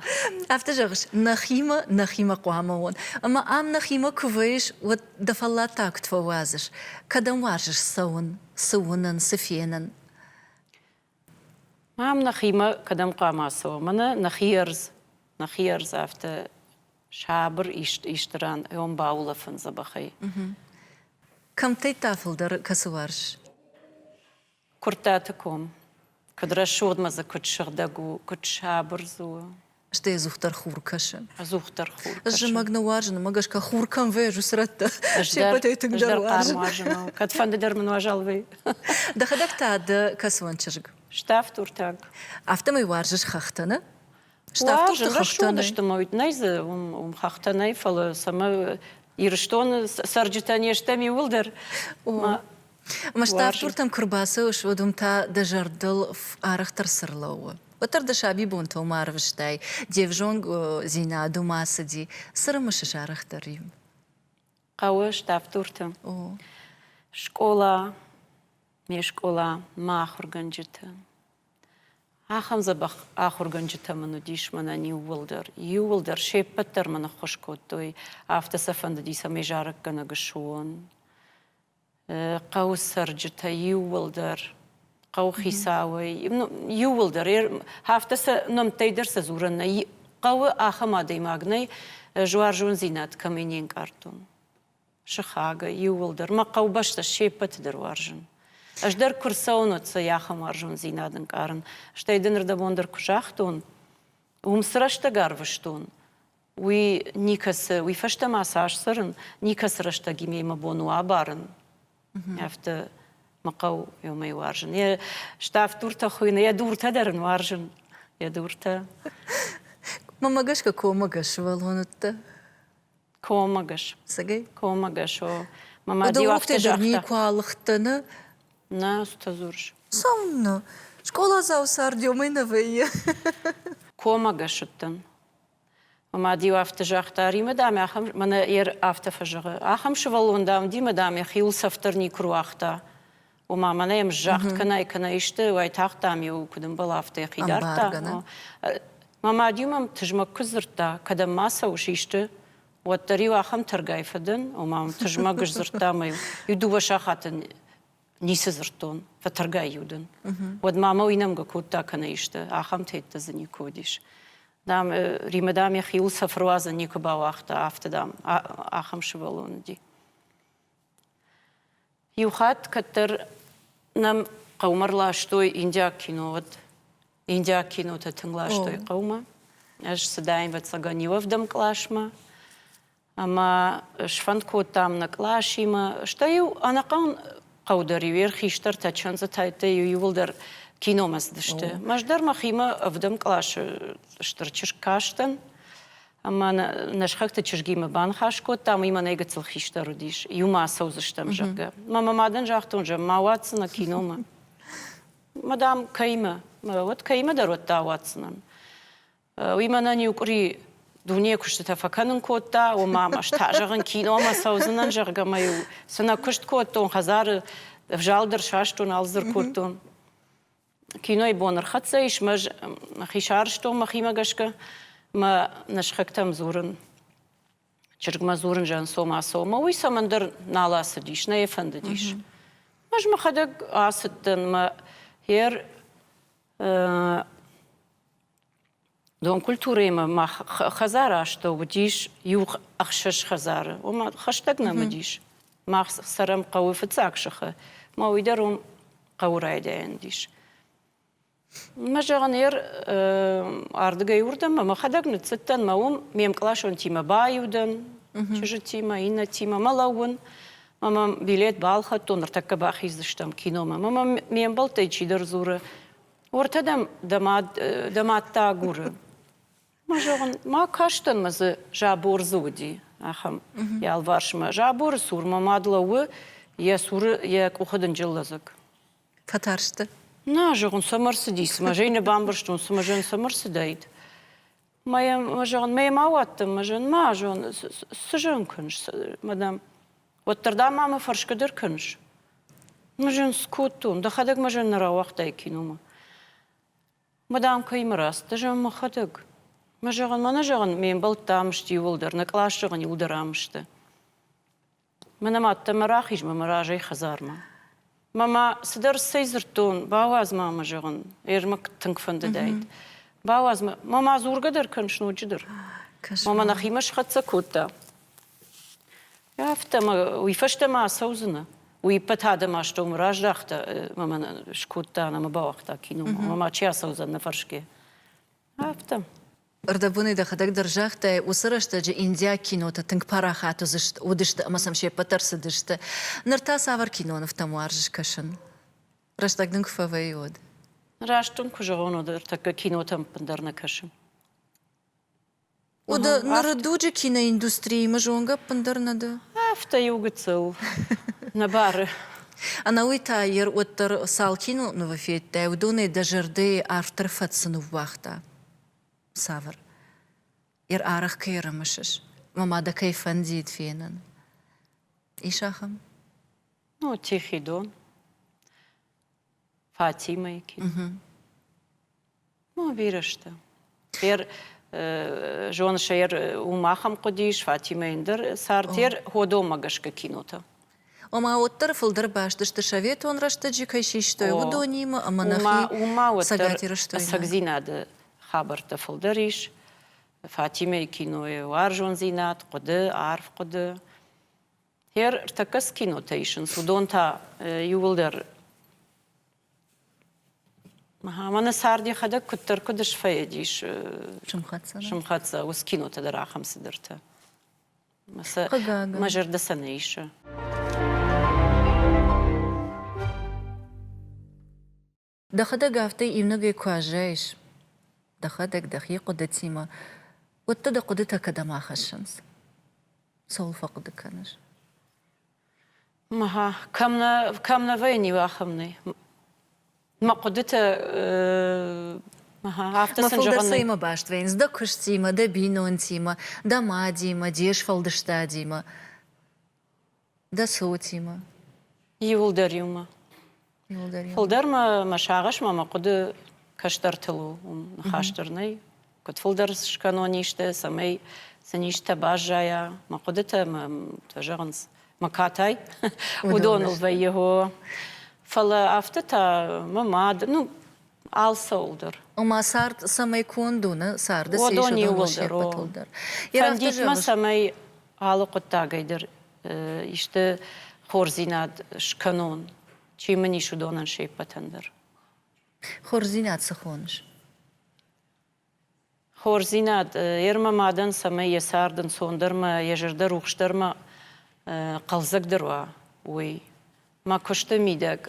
Speaker 1: Афтӕ зӕгъыс, нӕхимӕ нӕхимӕ хъуамӕ уон. Ӕмӕ ам нӕхимӕ куы вӕйыс, уӕд дӕ фӕллаттӕ куыд фӕуадзыс? Кӕдӕм уарзыс цӕуын, цы уынын, цы фенын?
Speaker 2: Ам нӕхимӕ кӕдӕм хъуамӕ цӕуӕм? Мӕнӕ нӕхи ӕрдз, нӕхи ӕрдз афтӕ сабыр ист исты ран ӕм баулӕфын дзӕбӕхӕй.
Speaker 1: Кӕмттӕй та фылдӕр кӕцы уарзыс? Куырттаты
Speaker 2: ком, куыд рӕсугъдмӕ дзы куыд сыгъдӕг у, куыд сабырдз у. Стӕй ӕдзухдӕр
Speaker 1: хур кӕсы. Ӕдзухдӕр хур кӕсы. Ӕз
Speaker 2: зымӕг нӕ уарзын,
Speaker 1: уымӕ гӕсгӕ хур кӕм вӕййы, уыцы рӕттӕ се ппӕтӕй тынгдӕр
Speaker 2: уарзын. Кӕдфӕнды дӕр мын уазал уый. Дӕхӕдӕг та
Speaker 1: дӕ кӕцыуӕн чызг? Ставд уртаг.
Speaker 2: Афтӕмӕй уарзыс
Speaker 1: хӕхтӕ, нӕ? Ставдты
Speaker 2: хӕхтӕ сты мӕ уыд нӕй дзы уым уым хӕхтӕ нӕй, фӕлӕ цӕмӕ Ирыстоны цӕрджытӕ не стӕм иууылдӕр. Ӕмӕ
Speaker 1: Ставдтуртӕм куы рбацӕуыс, уӕд уым та дӕ зӕрдыл арӕхдӕр цы рлӕууы? Уӕддӕр дӕ сабибонтыл ма арвыстай, де взонгдзинад ума цыди. Цы рымысыс арӕхдӕр-иу? Хъӕуы
Speaker 2: Ставдтурты. Скъола, ме скъола, мӕ ахуыргӕнджыты. Ахӕм дзӕбӕх ахуыргӕнджытӕ мын уыдис мӕнӕн иууылдӕр. Иууылдӕр се ппӕт дӕр мын ӕххуыс кодтой, афтӕ сӕ фӕндыди, цӕмӕй зарӕггӕнӕг суон. Хъӕуы цӕрджытӕ иууылдӕр, хъӕуыхицауӕй, иууылдӕр, афтӕ сӕ нӕмттӕй дӕр сӕ дзурӕн нӕй. Хъӕуы ахӕм адӕймаг нӕй, жуарзондзинад кӕмӕй не нкъардтон. сыхагӕй иууылдӕр мӕ хъӕубӕстӕ се ппӕты дӕр уарзын. Ӕз дӕр куы рцӕуын, уӕд сӕ йӕхӕм уарзондзинад ӕнкъарын. Стӕй дын ӕрдӕбон дӕр куы загътон, уым цы рӕстӕг арвыстон, уый никӕцы, уый фӕстӕ ма цас цӕрын, никӕцы рӕстӕг имӕ мӕ бон у абарын. Афтӕ мӕ хъӕу иумӕ уарзын. Йӕ ставддуртӕ хуыйны, йӕ дуртӕ дӕр ын уарзын, йӕ дуртӕ.
Speaker 1: Мамӕ гӕсгӕ коммӕгӕс сывӕллон уыдтӕ?
Speaker 2: Комыгӕс. Цыгай? Комыгӕс,
Speaker 1: о.
Speaker 2: Мама Ды уыгтӕ дӕр никуы алыгъдтӕ, нӕ?
Speaker 1: Нӕ,
Speaker 2: стӕдзурыс. Цӕуыннӕ?
Speaker 1: Скъоладзау Сардиомӕ нӕ вӕййы.
Speaker 2: Комыгӕс уыдтӕн. Мад-иу афтӕ загъта, Римӕ, дам, ахӕм, мӕнӕ йӕ афтӕ фӕзӕгъы, ахӕм сывӕллон, дам, уыди, мӕ дам, йӕхиуыл цӕф дӕр никуы руагъта. Ома, мӕнӕ йӕм зӕгъд кӕнай, кӕнӕ исты уайтагъд, дам-иу куыд ӕмбал, афтӕ йӕхи дардта. Мӕ мад-иу мӕм тызмӕг куыд дзырдта, кӕдӕм ма цӕуыс исты, уӕддӕр-иу ахӕм тӕргай фӕдӕн, ома мӕм тызмӕг сдзырдта мӕ иу дыууӕ сахаты ницы дзырдтон, фӕтӕргай-иу дын. Уӕдмӕ мӕ уый нӕмгӕ кодта кӕнӕ исты, ахӕмтӕ йеддӕ дзы никуы уыдис. Дам, Римӕ, дам, йӕхиуыл цӕфыруадзӕн никуы бауагъта, афтӕ, дам, ахӕм сывӕллон уыди. Иу хатт кӕддӕр нӕм хъӕумӕ рластой индиаг кино. Уӕд индиаг кинотӕ тынг ластой хъӕумӕ. Ӕз цыдаин ӕвӕццӕгӕн иуӕвдӕм къласмӕ. Ӕмӕ сфӕнд кодтам нӕ къласимӕ. Стӕй-иу ӕнӕхъӕн хъӕу дӕр-иу йе рхистӕртӕ, чындзытӕйттӕ-иу иууылдӕр киномӕ цыдысты. Ӕз дӕр мӕхимӕ ӕвдӕм къласы стыр чызг кастӕн. Ӕмӕ нӕ сыхӕгты чызгимӕ баныхас кодтам, уый мӕнӕй гыццыл хистӕр уыдис, иумӕ ацӕудзыстӕм, зӕгъгӕ. Мӕ мадӕн загътон, зӕгъ, ма ауадздзынӕ киномӕ. Мадам, кӕимӕ? Уӕд кӕимӕ дӕр уӕд ауадздзынӕн. Уый мӕнӕн иу къуыри дунейы куыстытӕ фӕкӕнын кодта, ома ӕз та зӕгъын, киномӕ цӕудзынӕн, зӕгъгӕ, мӕ-иу цынӕ куыст кодтон, хӕдзары взал дӕр састон, алдзыр кодтон. Кинойы бон ӕрхӕццӕ ис, ӕз хи сарызтон мӕхимӕ гӕсгӕ, мӕ нӕсхӕгтӕм дзурын чызгмӕ дзурын жансома-сома, уый цӕмӕндӕр нал ацыдис, нӕ йӕ фӕндыдис. Ӕз мӕхӕдӕг ацыдтӕн, мӕ хер Донкультурӕимӕ ма хӕдзары астӕу уыдис иу ӕхсӕз хӕдзары, ома хӕстӕг нӕм уыдис. Мах цӕрӕм хъӕуы фыццаг сыхы, ма уый дӕр уым хъӕуы райдайӕн уыдис. Мӕ зӕгъын, ер ардыгӕй уырдӕм мӕхӕдӕг ныццыдтӕн, мӕ уым ме мкъласонтимӕ баиу дӕн, чызджытимӕ, иннӕтимӕ мӕ лӕууын, мӕ мӕм билет балхӕдтон, ныртӕккӕ бахиздзыстӕм киномӕ. Мӕ мӕм ме мбӕлттӕй чидӕр дзуры, Ортӕ дӕм дӕ мад дӕ мад та агуры. Мӕ зӕгъын, ма кастӕн мӕ дзы забор дзы уыди ахӕм ялварсмӕ. Заборы цур мӕ мад лӕууы йӕ цуры йӕ къухы дынджыл лӕдзӕг. Фӕтарсты?
Speaker 1: Нӕ, зӕгъын,
Speaker 2: цӕмӕ рцыди, цымӕ? Зӕй нӕ бамбӕрстон, цымӕ зӕн цӕмӕ рцыдаид? Мӕ зӕгъын, мӕ ма уӕддӕр мӕ зын ма зон, цы зын куыныс, мадам? Уӕддӕр, ма мӕ фӕрсгӕдӕр кӕныс? Мӕ зын скодтон, дӕхӕдӕг мӕ зын нӕ рауагътай киномӕ. Мадам, кӕимӕ раст, ды зӕгъ мӕхӕдӕг. Мӕ зӕгъын, мӕнӕ зӕгъын, ме мбӕлттӕ ам сты иууылдӕр, нӕ къласы зӕгъын иууылдӕр ам сты. Мӕ нымадта мӕ рахиз мӕ мӕ разӕй хӕдзармӕ. Мӕ ма цыдӕр цӕй дзырдтон, бауадз ма мӕ зӕгъын, Ермак тынг фӕндыдаид. Бауадз мӕ, мӕ ма дзургӕ дӕр кӕныс ноджыдӕр. Мӕ мӕ нӕхимӕ схӕццӕ кодта. Афтӕ мӕ уый фӕстӕ ма ацӕудзынӕ. Уый ӕппӕт адӕм астӕумӕ раздӕхта, мӕ мӕ нӕ скодта, нӕ мӕ бауагъта киномӕ. Мӕ ма чи ацӕудзӕн, нӕ фӕрсгӕ. Афтӕ. Ӕрдӕбонӕй
Speaker 1: дӕхӕдӕг дӕр загътай, уыцы рӕстӕджы индиаг кинотӕ тынг парахат уыдзысты ӕмӕ сӕм се ппӕт дӕр цыдысты. Ныр та цавӕр кинонывтӕм уарзыс кӕсын? Рӕстӕг дын куы фӕвӕййы, уӕд. Раст дын куы
Speaker 2: зӕгъон, уӕд ӕртӕккӕ кинотӕм ӕппындӕр нӕ кӕсын.
Speaker 1: Уды ныры дуджы киноиндустриимӕ зонгӕ ӕппындӕр нӕ дӕ? Афтӕ иу
Speaker 2: гыццыл нӕ бары. Ӕнӕуый
Speaker 1: та йӕ уӕддӕр цал кинонывы федтай, уыдонӕй дӕ зӕрдӕйы автор фӕд цы ныууагъта? Цавӕр арӕх кӕй ӕрымысыс? Мӕ мадӕ кӕй фӕндид фенын? Ис ахӕм?
Speaker 2: Ну, тихий дон. Фатимӕйы кино. Ну, бирӕстӕ. Ер зоныс, ер уым ахӕм хъуыдис, Фатимӕ ӕндӕр цард, ер ходомӕ гӕсгӕ кинотӕ. ома уӕддӕр
Speaker 1: фылдӕр бӕсты сты советон рӕстӕджы кӕй систой, уыдонимӕ ӕмӕ нӕхи Цӕгат
Speaker 2: Ирыстоимӕ.
Speaker 1: Ӕцӕгдзинады
Speaker 2: хабӕрттӕ фылдӕр ис. Фатимӕйы кинойы уарзондзинад, хъуыды, арф хъуыды. Хер ӕртӕккӕ цы кинотӕ исынц, уыдон та иуылдӕр Мӕнӕ цард йӕхӕдӕг куыддӕр куыд сфӕйыдис. Сымхӕццӕ. Сымхӕццӕ. Уыцы кинотӕ дӕр ахӕм цыдӕртӕ. мӕ зӕрдӕ сӕ нӕ исы
Speaker 1: дӕхӕдӕг афтӕ иунӕгӕй куы аззайыс дӕхӕдӕг дӕхи хъуыдытимӕ уӕд дӕ хъуыдытӕ кӕдӕм ахӕссынц цӕуыл фӕхъуыды кӕныс
Speaker 2: кӕм нӕ кӕм нӕ вӕййын иу ахӕм нӕй Мӕ хъуыдыты Афтӕ сын
Speaker 1: зӕгъын. баст вӕййынц дӕ куыстимӕ, дӕ бинонтимӕ, дӕ мадимӕ, де сфӕлдыстадимӕ, дӕ цотимӕ. Иуылдӕр
Speaker 2: иумӕ. Иуылдӕр иумӕ. Фылдӕр мӕ мӕ сагъӕс мӕ мӕ хъуыды кӕстӕртыл у. Уым ныхас дӕр нӕй. куыд фылдӕр скӕнон исты, цӕмӕй сын истытӕ баззайа, мӕ хъуыдытӕ мӕ зӕгъынц, мӕ катай, уыдоныл вӕййы хо. Фӕлӕ афтӕ та мӕ мад, ну, алцӕуыл дӕр. Ома цард
Speaker 1: цӕмӕй конд уыны, царды се исудӕн иууыл се
Speaker 2: ппӕтыл дӕр. Фӕндитмӕ цӕмӕй алы хъуыддагӕй дӕр исты хорздзинад скӕнон, чи мын ис, уыдонӕн се ппӕтӕн дӕр.
Speaker 1: Хорздзинад цы хоныс?
Speaker 2: Хорздзинад йе рмӕ мадӕн, цӕмӕй йӕ цард ӕнцондӕр ӕмӕ йӕ зӕрдӕ рухсдӕрмӕ хъӕлдзӕгдӕр уа, уый. Мӕ куысты мидӕг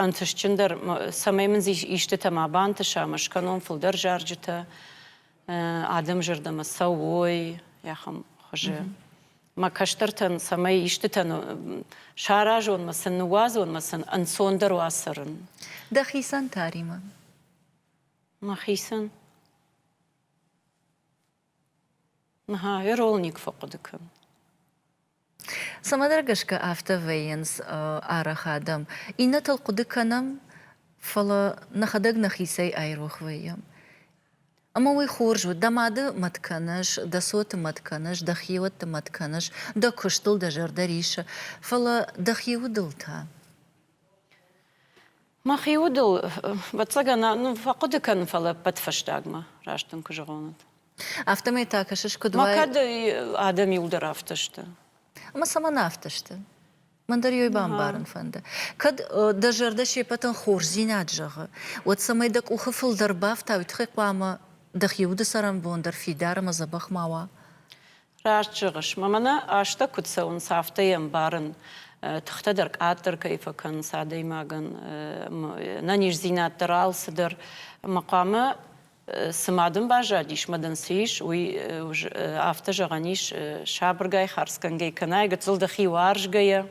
Speaker 2: ӕнтыстджындӕр, цӕмӕй мын истытӕ ма бантыса, ӕмӕ скӕнон фылдӕр зарджытӕ, адӕмы зӕрдӕмӕ цӕуой ахӕм хуызы. Мӕ кӕстӕртӕн, цӕмӕй истытӕн саразон, сын ныууадзон, сын ӕнцондӕр уа цӕрын. Дӕхицӕн
Speaker 1: та, Риман?
Speaker 2: Мӕхицӕн иролник фӕхъуыды кӕн.
Speaker 1: Цӕмӕдӕр гӕсгӕ афтӕ вӕййынц арӕх адӕм. Иннӕтыл хъуыды кӕнӕм, фӕлӕ нӕхӕдӕг нӕхицӕй айрох вӕййӕм. Ӕмӕ уый хорз у, дӕ мады мӕт кӕныс, дӕ цоты мӕт кӕныс, дӕ хиуӕтты мӕт кӕныс, дӕ куыстыл дӕ зӕрдӕ рисы, фӕлӕ дӕ хи удыл та?
Speaker 2: Мӕхи удыл, ӕвӕццӕгӕн, ну, фӕхъуыды кӕн, фӕлӕ ӕппӕт фӕстагмӕ, раст дын куы зӕгъон. Афтӕмӕй та
Speaker 1: кӕсыс, куыд уай? Мӕ кӕд адӕм
Speaker 2: иу дӕр афтӕ сты? Ӕмӕ цӕмӕн
Speaker 1: афтӕ сты? Мӕн дӕр йой бамбарын фӕнды. Кӕд дӕ зӕрдӕ се пӕтӕн хорздзинад зӕгъы, уӕд цӕмӕй дӕ къухы фылдӕр бафта, уый тыххӕй хъуамӕ дӕхи уды цӕрӕнбон дӕр фидар ӕмӕ дзӕбӕх ма уа. Раст
Speaker 2: зӕгъыс, мӕ мӕнӕ азтӕ куыд цӕуынц, афтӕ йӕ ӕмбарын. Тыхтӕ дӕр къаддӕр кӕй фӕкӕнынц адӕймагӕн, ӕнӕниздзинад дӕр алцыдӕр ӕмӕ хъуамӕ цы ма дын баззадис, мадӕн цы ис, уый афтӕ зӕгъӕн ис, сабыргай, хардзгӕнгӕй кӕнай, гыццыл дӕхи уарзгӕйӕ,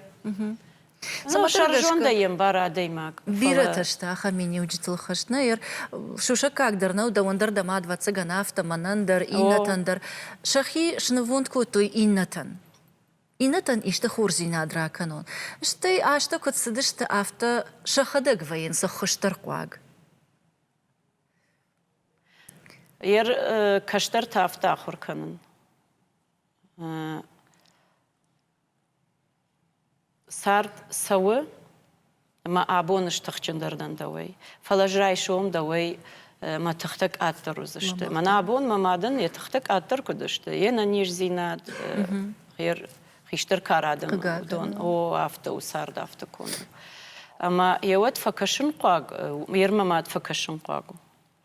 Speaker 2: Цымӕ зондӕй ӕмбар адӕймаг. Бирӕтӕ сты ахӕм
Speaker 1: миниуджытыл хызт. Нӕ ӕр сусӕггаг дӕр нӕу дӕуӕн дӕр дӕ мад, ӕвӕццӕгӕн, афтӕ, мӕнӕн дӕр, иннӕтӕн дӕр. Сӕхи снывонд кодтой иннӕтӕн. Иннӕтӕн исты хорздзинад ракӕнон. Стӕй азтӕ куыд цыдысты, афтӕ сӕхӕдӕг вӕййынц ӕххуысдӕр хъуаг. Йӕ
Speaker 2: кӕстӕртӕ афтӕ ахуыр кӕнын. Цард цӕуы, ӕмӕ абон стыхджындӕр дӕн дӕуӕй, фӕлӕ ӕз райсом дӕуӕй мӕ тыхтӕ къаддӕр уыдзысты. Мӕнӕ абон мӕ мадӕн йӕ тыхтӕ къаддӕр куыд сты, йе нӕниздзинад, йе хистӕр карадӕн уыдон, о, афтӕ у цард, афтӕ конд у. Ӕмӕ йӕ уӕд фӕкӕсынхъуаг, йе рмӕ мад фӕкӕсынхъуаг у.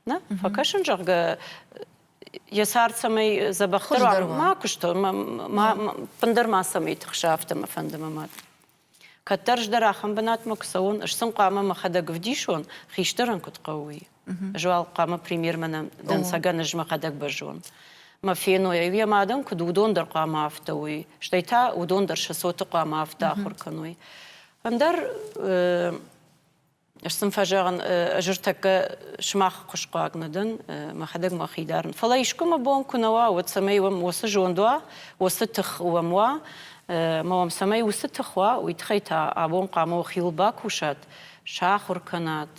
Speaker 2: Нӕ? Фӕкӕсын, зӕгъгӕ, йӕ цард цӕмӕй дзӕбӕхдӕр уа, ма куыста, ӕппындӕр ма цӕмӕй тыхса, афтӕ мӕ фӕнды мӕ мад. Кӕддӕр ӕз дӕр ахӕм бынатмӕ куы цӕуон, ӕз сын хъуамӕ мӕхӕдӕг вдисон, хистӕрӕн куыд хъӕуы, уый. Ӕз уал хъуамӕ премьермӕ нӕ дӕнцӕгӕн ӕз мӕхӕдӕг базон. Мӕ феной, йӕ мадӕн куыд уыдон дӕр хъуамӕ афтӕ уой, стӕй та уыдон дӕр сӕ цоты хъуамӕ афтӕ ахуыр кӕной. Ӕндӕр Ӕз сын фӕзӕгъын, ӕз ӕртӕккӕ сымах хуысхъуаг нӕ дӕн, мӕхӕдӕг мӕхи дарын. Фӕлӕ искуы мӕ бон куы нӕ уа, уӕд цӕмӕй уӕм уыцы зонд уа, уыцы тых уӕм уа, ӕмӕ уӕм цӕмӕй уыцы тых уа, уый тыххӕй та абон хъуамӕ охиыл бакусат, сахуыр кӕнат,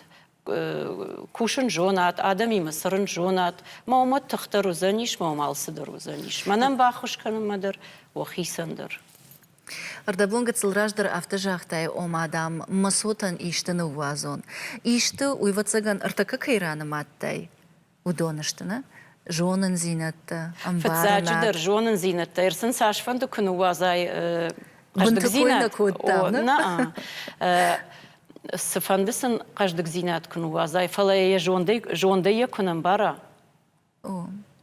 Speaker 2: кусын зонат, адӕмимӕ цӕрын зонат, ма уымӕ тых дӕр уыдзӕнис, ма уым алцыдӕр уыдзӕнис. Мӕнӕн баххуыс кӕнынмӕ дӕр, уӕ хицӕн дӕр.
Speaker 1: Ӕрдӕбон гыццыл раздӕр афтӕ загътай, ома, дам, Мӕсотӕн исты ныууадзон. Исты, уйвӕццӕгӕн, ӕртӕккӕ кӕй ранымадтай, уыдон сты, нӕ? Зонындзинӕдтӕ, ӕмбарынад. Фыццаджыдӕр, зонындзинӕдтӕ
Speaker 2: ӕрцын цасфӕнды куы ныууадзай. Бынты кой нӕ кодтам,
Speaker 1: нӕ?
Speaker 2: Цыфӕнды сын хъӕздыгдзинад куы ныууадзай, фӕлӕ йӕ зондӕй йӕ куы нӕ ӕмбара,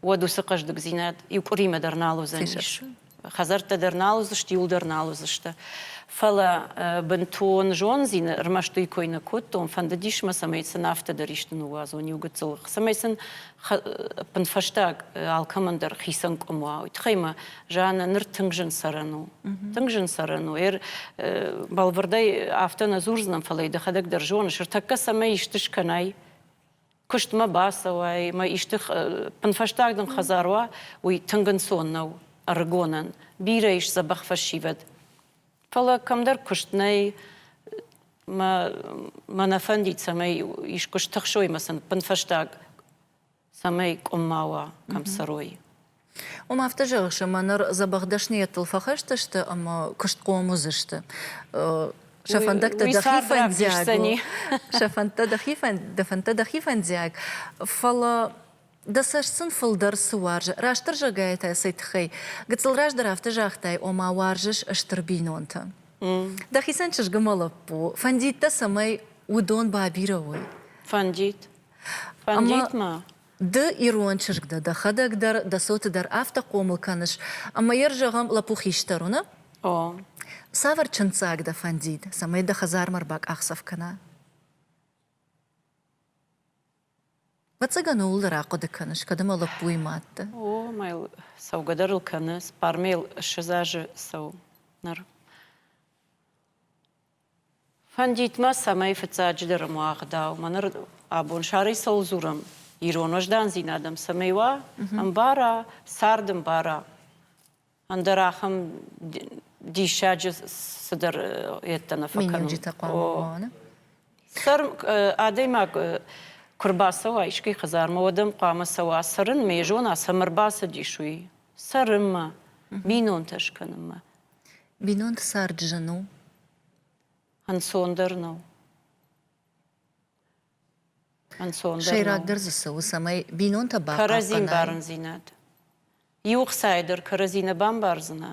Speaker 2: уӕд уыцы хъӕздыгдзинад иу къуыримӕ дӕр нал уыдзӕнис. Хӕдзӕрттӕ дӕр нал уыдзысты, иуыл дӕр нал уыдзысты. Фӕлӕ бынтон зондзин ӕрмӕст уый кой нӕ кодтон, фӕндыдис мӕ, цӕмӕй сын афтӕ дӕр исты ныууадзон иу гыццыл, цӕмӕй сын ӕппынфӕстаг алкӕмӕн дӕр хицӕн къуым уа. Уый тыххӕй мӕ Жаннӕ ныр тынг зын цӕрӕн у. Тынг зын цӕрӕн у. Эр бӕлвырдӕй афтӕ нӕ дзурдзынӕн, фӕлӕ дӕхӕдӕг дӕр зоныс, ӕртӕккӕ цӕмӕй исты скӕнай, куыстмӕ бацӕуай, мӕ исты пынфӕстаг дын хӕдзар уа, уый тынг ӕнцон нӕу ӕрыгонӕн, бирӕ ис дзӕбӕх фӕсивӕд. Фӕлӕ кӕмдӕр куыст нӕй, мӕ, мӕ нӕ фӕндид, цӕмӕй искуы стыхсой мӕ сын пынфӕстаг, цӕмӕй къуымма уа, кӕм цӕрой. Уым
Speaker 1: афтӕ зӕгъыс, ӕмӕ ныр дзӕбӕх дӕсныйӕдтыл фӕхӕсдзысты ӕмӕ куыстхъом уыдзысты. Сӕ фӕндӕгтӕ дӕхи фӕндиаг у. Сӕ фӕндтӕ дӕхи дӕ фӕндтӕ дӕхи фӕндиаг, фӕлӕ дӕ цӕст сын фылдӕр цы уарзы. Растырзӕгӕй та цӕй тыххӕй? Гыццыл раздӕр афтӕ загътай, ома уарзыс стыр бинонтӕ. Дӕхицӕн чызг мӕ лӕппу. Фӕндид дӕ, цӕмӕй уыдон бабирӕ уой? Фӕндид. Фӕндид
Speaker 2: мӕ. Ды,
Speaker 1: ирон чызг дӕ дӕхӕдӕг дӕр, дӕ цоты дӕр афтӕ хъомыл кӕныс, ӕмӕ йӕ, зӕгъӕм, лӕппу хистӕр уыны. О. Цавӕр чындздзаг дӕ фӕндид, цӕмӕй дӕ хӕдзармӕ ӕрбакъахдзӕф кӕна? Ӕвӕццӕгӕн, ууыл дӕр ахъуыды кӕныс, кӕд ӕмӕ лӕппуйы мӕтты. О, ма йыл
Speaker 2: цӕугӕдӕр ыл кӕны, сбармӕ йыл ссӕдз азы цӕуы ныр. Фӕндид ма, цӕмӕй фыццаджыдӕр мӕ ӕгъдау, мӕ ныр абон сӕрыйсыл дзурӕм ирон уӕздандзинад ӕм цӕмӕй уа, ӕмбара, цард ӕмбара. Ӕндӕр ахӕм диссаджы цыдӕр йедтӕ нӕ фӕкӕнон. хъуамӕ
Speaker 1: Сӕр
Speaker 2: адӕймаг куы рбацӕуа искӕй хӕдзармӕ, уӕд ӕм хъуамӕ цӕуа цӕрын, ме зона, цӕмӕ рбацыдис, уый. цӕрынмӕ, бинонтӕ скӕнынмӕ. Бинонты цард
Speaker 1: зын у?
Speaker 2: Ӕнцондӕр
Speaker 1: нӕу.
Speaker 2: Ӕнцондӕр Сӕйрагдӕр дзы
Speaker 1: цы у, цӕмӕй бинонтӕ бахъахъхъӕнай? Кӕрӕдзин барын-дзинад.
Speaker 2: Иу хцайы дӕр кӕрӕдзи нӕ бамбардзынӕ,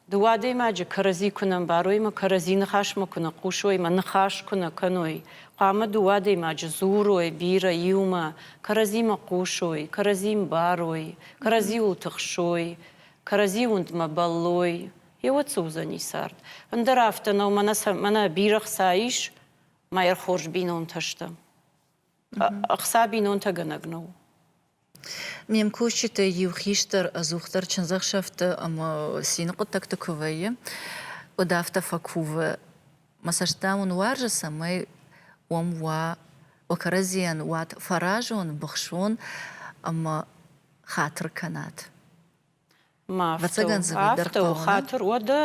Speaker 2: Дыууӕ адӕймаджы кӕрӕдзи куы нӕ ӕмбарой мӕ кӕрӕдзи ныхасмӕ куы нӕ хъусой мӕ ныхас куы нӕ кӕной, хъуамӕ дыууӕ адӕймаджы дзурой бирӕ иумӕ, кӕрӕдзимӕ хъусой, кӕрӕдзи мбарой, кӕрӕдзиуыл тыхсой, кӕрӕдзи уындмӕ бӕллой, йеуӕд цы уыдзӕни цард. Ӕндӕр афтӕ нӕу, мӕнӕ бирӕ хца ис, ма йӕ хорз бинонтӕ сты. Ӕхца бинонтӕгӕнӕг нӕу.
Speaker 1: Ме мкусджыты иу хистӕр ӕдзухдӕр чындзӕхсӕвты ӕмӕ цины хъуыддӕгты куы вӕййы, уӕд афтӕ фӕкувы, мӕ цӕст, дам, уын уарзы, цӕмӕй уӕм уа, уӕ кӕрӕдзийӕн уат фӕразон, быхсон ӕмӕ хатыр кӕнат.
Speaker 2: Ӕвӕццӕгӕн дзы уый дӕр хъӕуы, нӕ? Хатыр, уӕдӕ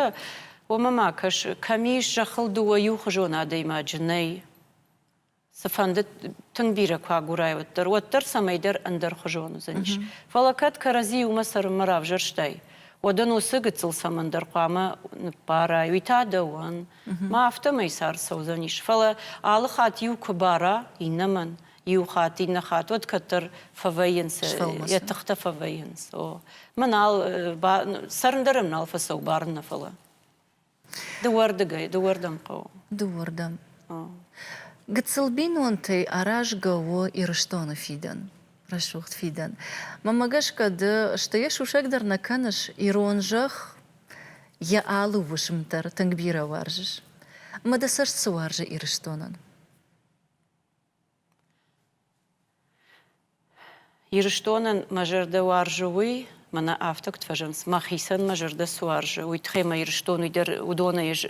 Speaker 2: уымӕ ма кӕс, кӕм ис зӕххыл дыууӕ иухуызон адӕймаджы, нӕй? Цыфӕнды тынг бирӕ куы агурай, уӕддӕр, уӕддӕр цӕмӕйдӕр ӕндӕрхуызон уыдзӕнис. Фӕлӕ кӕд кӕрӕдзи иумӕ цӕрынмӕ равзӕрстай, уӕд ын уыцы гыццыл цӕмӕндӕр хъуамӕ ныббарай, уый та дӕуӕн. Ма афтӕмӕй цард цӕудзӕнис. Фӕлӕ алы хатт иу куы бара иннӕмӕн, иу хатт, иннӕ хатт, уӕд кӕддӕр фӕвӕййынц, йӕ тыхтӕ фӕвӕййынц. О, мӕ нал, цӕрын дӕр ӕм нал фӕцӕуы барын нӕ фӕлӕ. Дыууӕрдыгӕй, дыууӕрдӕм хъӕуы. Дыууӕрдӕм.
Speaker 1: Гыццыл бинонтӕй аразгӕ у Ирыстоны фидӕн, рӕсугъд фидӕн. Мӕнмӕ гӕсгӕ ды, сты йӕ сусӕг дӕр нӕ кӕныс, ирон зӕхх йӕ алы уысм дӕр тынг бирӕ уарзыс. Ӕмӕ дӕ цӕст цы уарзы Ирыстонӕн?
Speaker 2: Ирыстонӕн мӕ зӕрдӕ уарзы уый, мӕнӕ афтӕ куыд фӕзӕнынц, мӕхицӕн мӕ зӕрдӕ цы уарзы, уый тыххӕй мӕ Ирыстон уый дӕр уыдонӕй ӕз,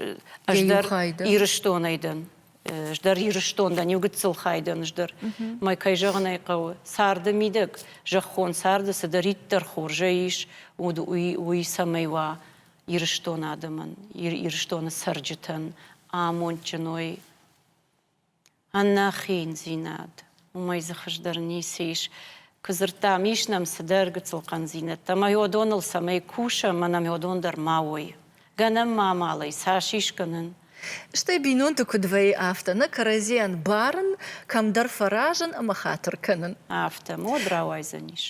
Speaker 2: ӕз дӕр Ирыстонӕй дӕн. Ӕз дӕр Ирыстон дӕн, иу гыццыл хай дӕн ӕз дӕр. Мӕ кӕй зӕгъын ӕй хъӕуы, царды мидӕг, зӕххон царды цыдӕриддӕр хорзӕй ис, уд уый, уый цӕмӕй уа Ирыстон адӕмӕн, Ирыстоны цӕрджытӕн амондджын уой, ӕнӕхиндзинад. Уымӕй дзы хуыздӕр ницы ис. Куы дзырдтам, ис нӕм цыдӕр гыццыл хъӕндзинӕдтӕ, ӕмӕ уыдоныл цӕмӕй кусӕм, мӕнӕн уыдон дӕр ма уой. Гӕнӕн ма амалӕй цас искӕнын. Стӕй
Speaker 1: бинонты куыд вӕййы афтӕ, нӕ кӕрӕдзийӕн барын, кӕмдӕр фӕразын ӕмӕ хатыр кӕнын. Афтӕ мод
Speaker 2: рауайдзӕнис.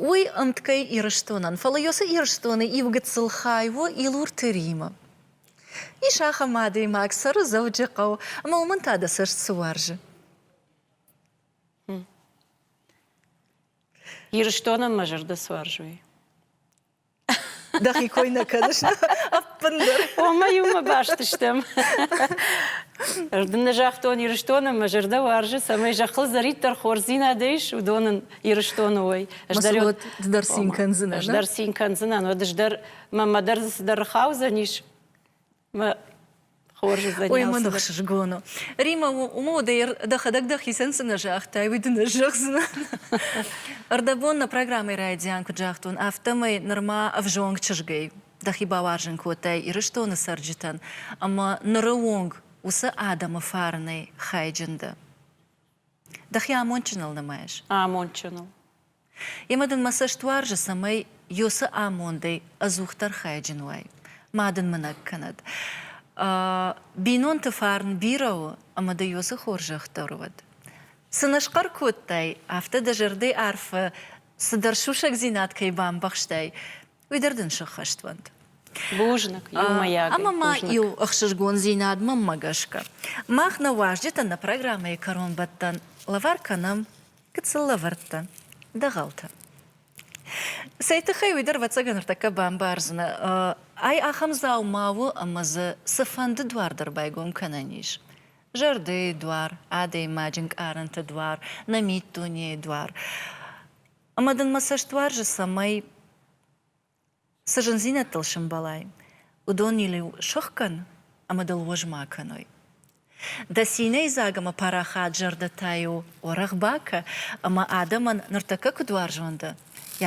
Speaker 2: Уый
Speaker 1: ӕмткӕй Ирыстонӕн, фӕлӕ йӕ цы Ирыстоны иу гыццыл хай у, Илурты Римы. Ис ахӕм адӕймаг Цӕрудзӕуджыхъӕу, ӕмӕ уымӕн та дӕ цӕст цы уарзы?
Speaker 2: Ирыстонӕн мӕ зӕрдӕ суарзой. Дӕхи
Speaker 1: кой нӕ кӕныс ӕппындӕр. Омӕ-иу мӕ
Speaker 2: баст стӕм. Дын нӕ загътон Ирыстонӕн мӕ зӕрдӕ уарзы, цӕмӕй зӕххыл зӕриддӕр хорздзинадӕй ис, уыдонӕн Ирыстоны уой. Ӕз
Speaker 1: дӕр цин кӕндзынӕн. Ӕз дӕр цин кӕндзынӕн,
Speaker 2: уӕд ӕз дӕр Мамӕ дӕр дзы цыдӕр
Speaker 1: хаудзӕнис. Мӕ Ой, мӕ ныхсызгон у. Рима, уымӕ уӕдӕ дӕхӕдӕг дӕхицӕн цынӕ загътай, уый дын ӕз зӕгъдзынӕ. Ӕрдӕбон нӕ программӕйы райдиан куыд загътон, афтӕмӕй нырма ӕвзонг чызгӕй дӕхи бауарзын кодтай Ирыстоны цӕрджытӕн ӕмӕ ныры онг уыцы адӕмы фарнӕй хайджын дӕ. Дӕхи амондджыныл нымайыс? Амондджыныл.
Speaker 2: Емӕ
Speaker 1: дын мӕ цӕст уарзы, цӕмӕй Ёсы амондӕй ӕдзухдӕр хайджын уай. Ма дын мынӕг кӕнӕд. Бинонты фарн бирӕ у ӕмӕ дӕ Ёсы хорзӕхдӕр уӕд. Цы нӕ схъӕр кодтай, афтӕ дӕ зӕрдӕйы арфы цыдӕр сусӕгдзинад кӕй бамбӕхстай, уый дӕр дын сыххӕст уӕнт.
Speaker 2: Бузныг, иумӕйаг ӕмӕ ма иу
Speaker 1: ӕхсызгондзинад мӕммӕ гӕсгӕ. Мах нӕ уазджытӕн нӕ программӕйы кӕронбӕттӕн лӕвар кӕнӕм, куыд сыл лӕвӕрдтӕ, дӕгъӕлтӕ. Цӕй тыххӕй уый дӕр ӕвӕццӕгӕн ныртӕккӕ бамбардзынӕ. Ай ахӕм дзау ма у ӕмӕ дзы цыфӕнды дуар дӕр байгом кӕнӕн ис. Зӕрдӕйы дуар, адӕймаджы нкъарӕнты дуар, нӕ миддунейы дуар. Ӕмӕ дын мӕ цӕст уарзы, цӕмӕй, цы зындзинӕдтыл сӕмбӕлай, уыдон йыл-иу сыхгӕн ӕмӕ дыл уӕз ма кӕной. Дӕ цинӕй дзаг ӕмӕ парахат зӕрдӕтӕ-иу уӕрӕх бакӕ, ӕмӕ адӕмӕн ныртӕккӕ куыд уарзон дӕ,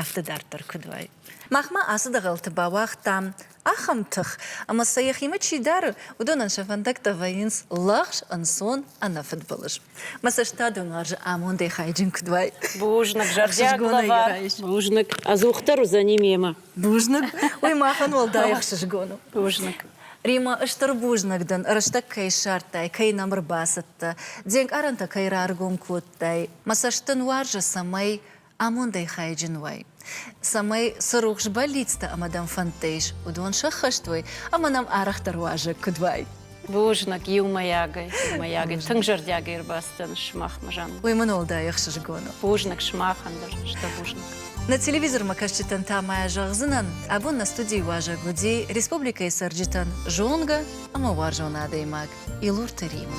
Speaker 1: афтӕ дарддӕр куыд уай. Махмӕ ацы дӕгъӕлты бауагътам ахӕм тых, ӕмӕ сӕ йӕхимӕ чи дары, уыдонӕн сӕ фӕндӕгтӕ вӕййынц лӕгъз, ӕнцон, ӕнӕфыдбылыз. Мӕ цӕстадон уарзы амондӕй хайджын куыд уай. Бузныг, зӕрдиаг
Speaker 2: лӕвар. Бузныг.
Speaker 1: Ӕдзухдӕр
Speaker 2: уыдзӕни
Speaker 1: мемӕ.
Speaker 2: Бузныг.
Speaker 1: Уый
Speaker 2: махӕн
Speaker 1: уӕлдай
Speaker 2: ӕхсызгон у.
Speaker 1: Бузныг. Рима, стыр бузныг дын, рӕстӕг кӕй ссардтай, кӕй нӕм ӕрбацыдтӕ, де нкъарӕнтӕ кӕй раргом кодтай. Мӕ цӕст дын уарзы, цӕмӕй амондӕй хайджын уай, цӕмӕй, цы рухс бӕллицтӕ ӕмӕ дӕм фӕндтӕ ис, уыдон сӕххӕст уой ӕмӕ нӕм арӕхдӕр уазӕг куыд уай. Бузныг
Speaker 2: иумӕйагӕй, иумӕйагӕй. Тынг зӕрдиагӕй ӕрбацыдтӕн сымахмӕ, Жанна. Уый мын уӕлдай ӕхсызгон
Speaker 1: у. Бузныг сымахӕн
Speaker 2: дӕр, стыр бузныг. Нӕ телевизормӕ
Speaker 1: кӕсджытӕн та ма зӕгъдзынӕн, абон нӕ студийы уазӕг уыди республикӕйы цӕрджытӕн зонгӕ ӕмӕ уарзон адӕймаг Илурты Рима.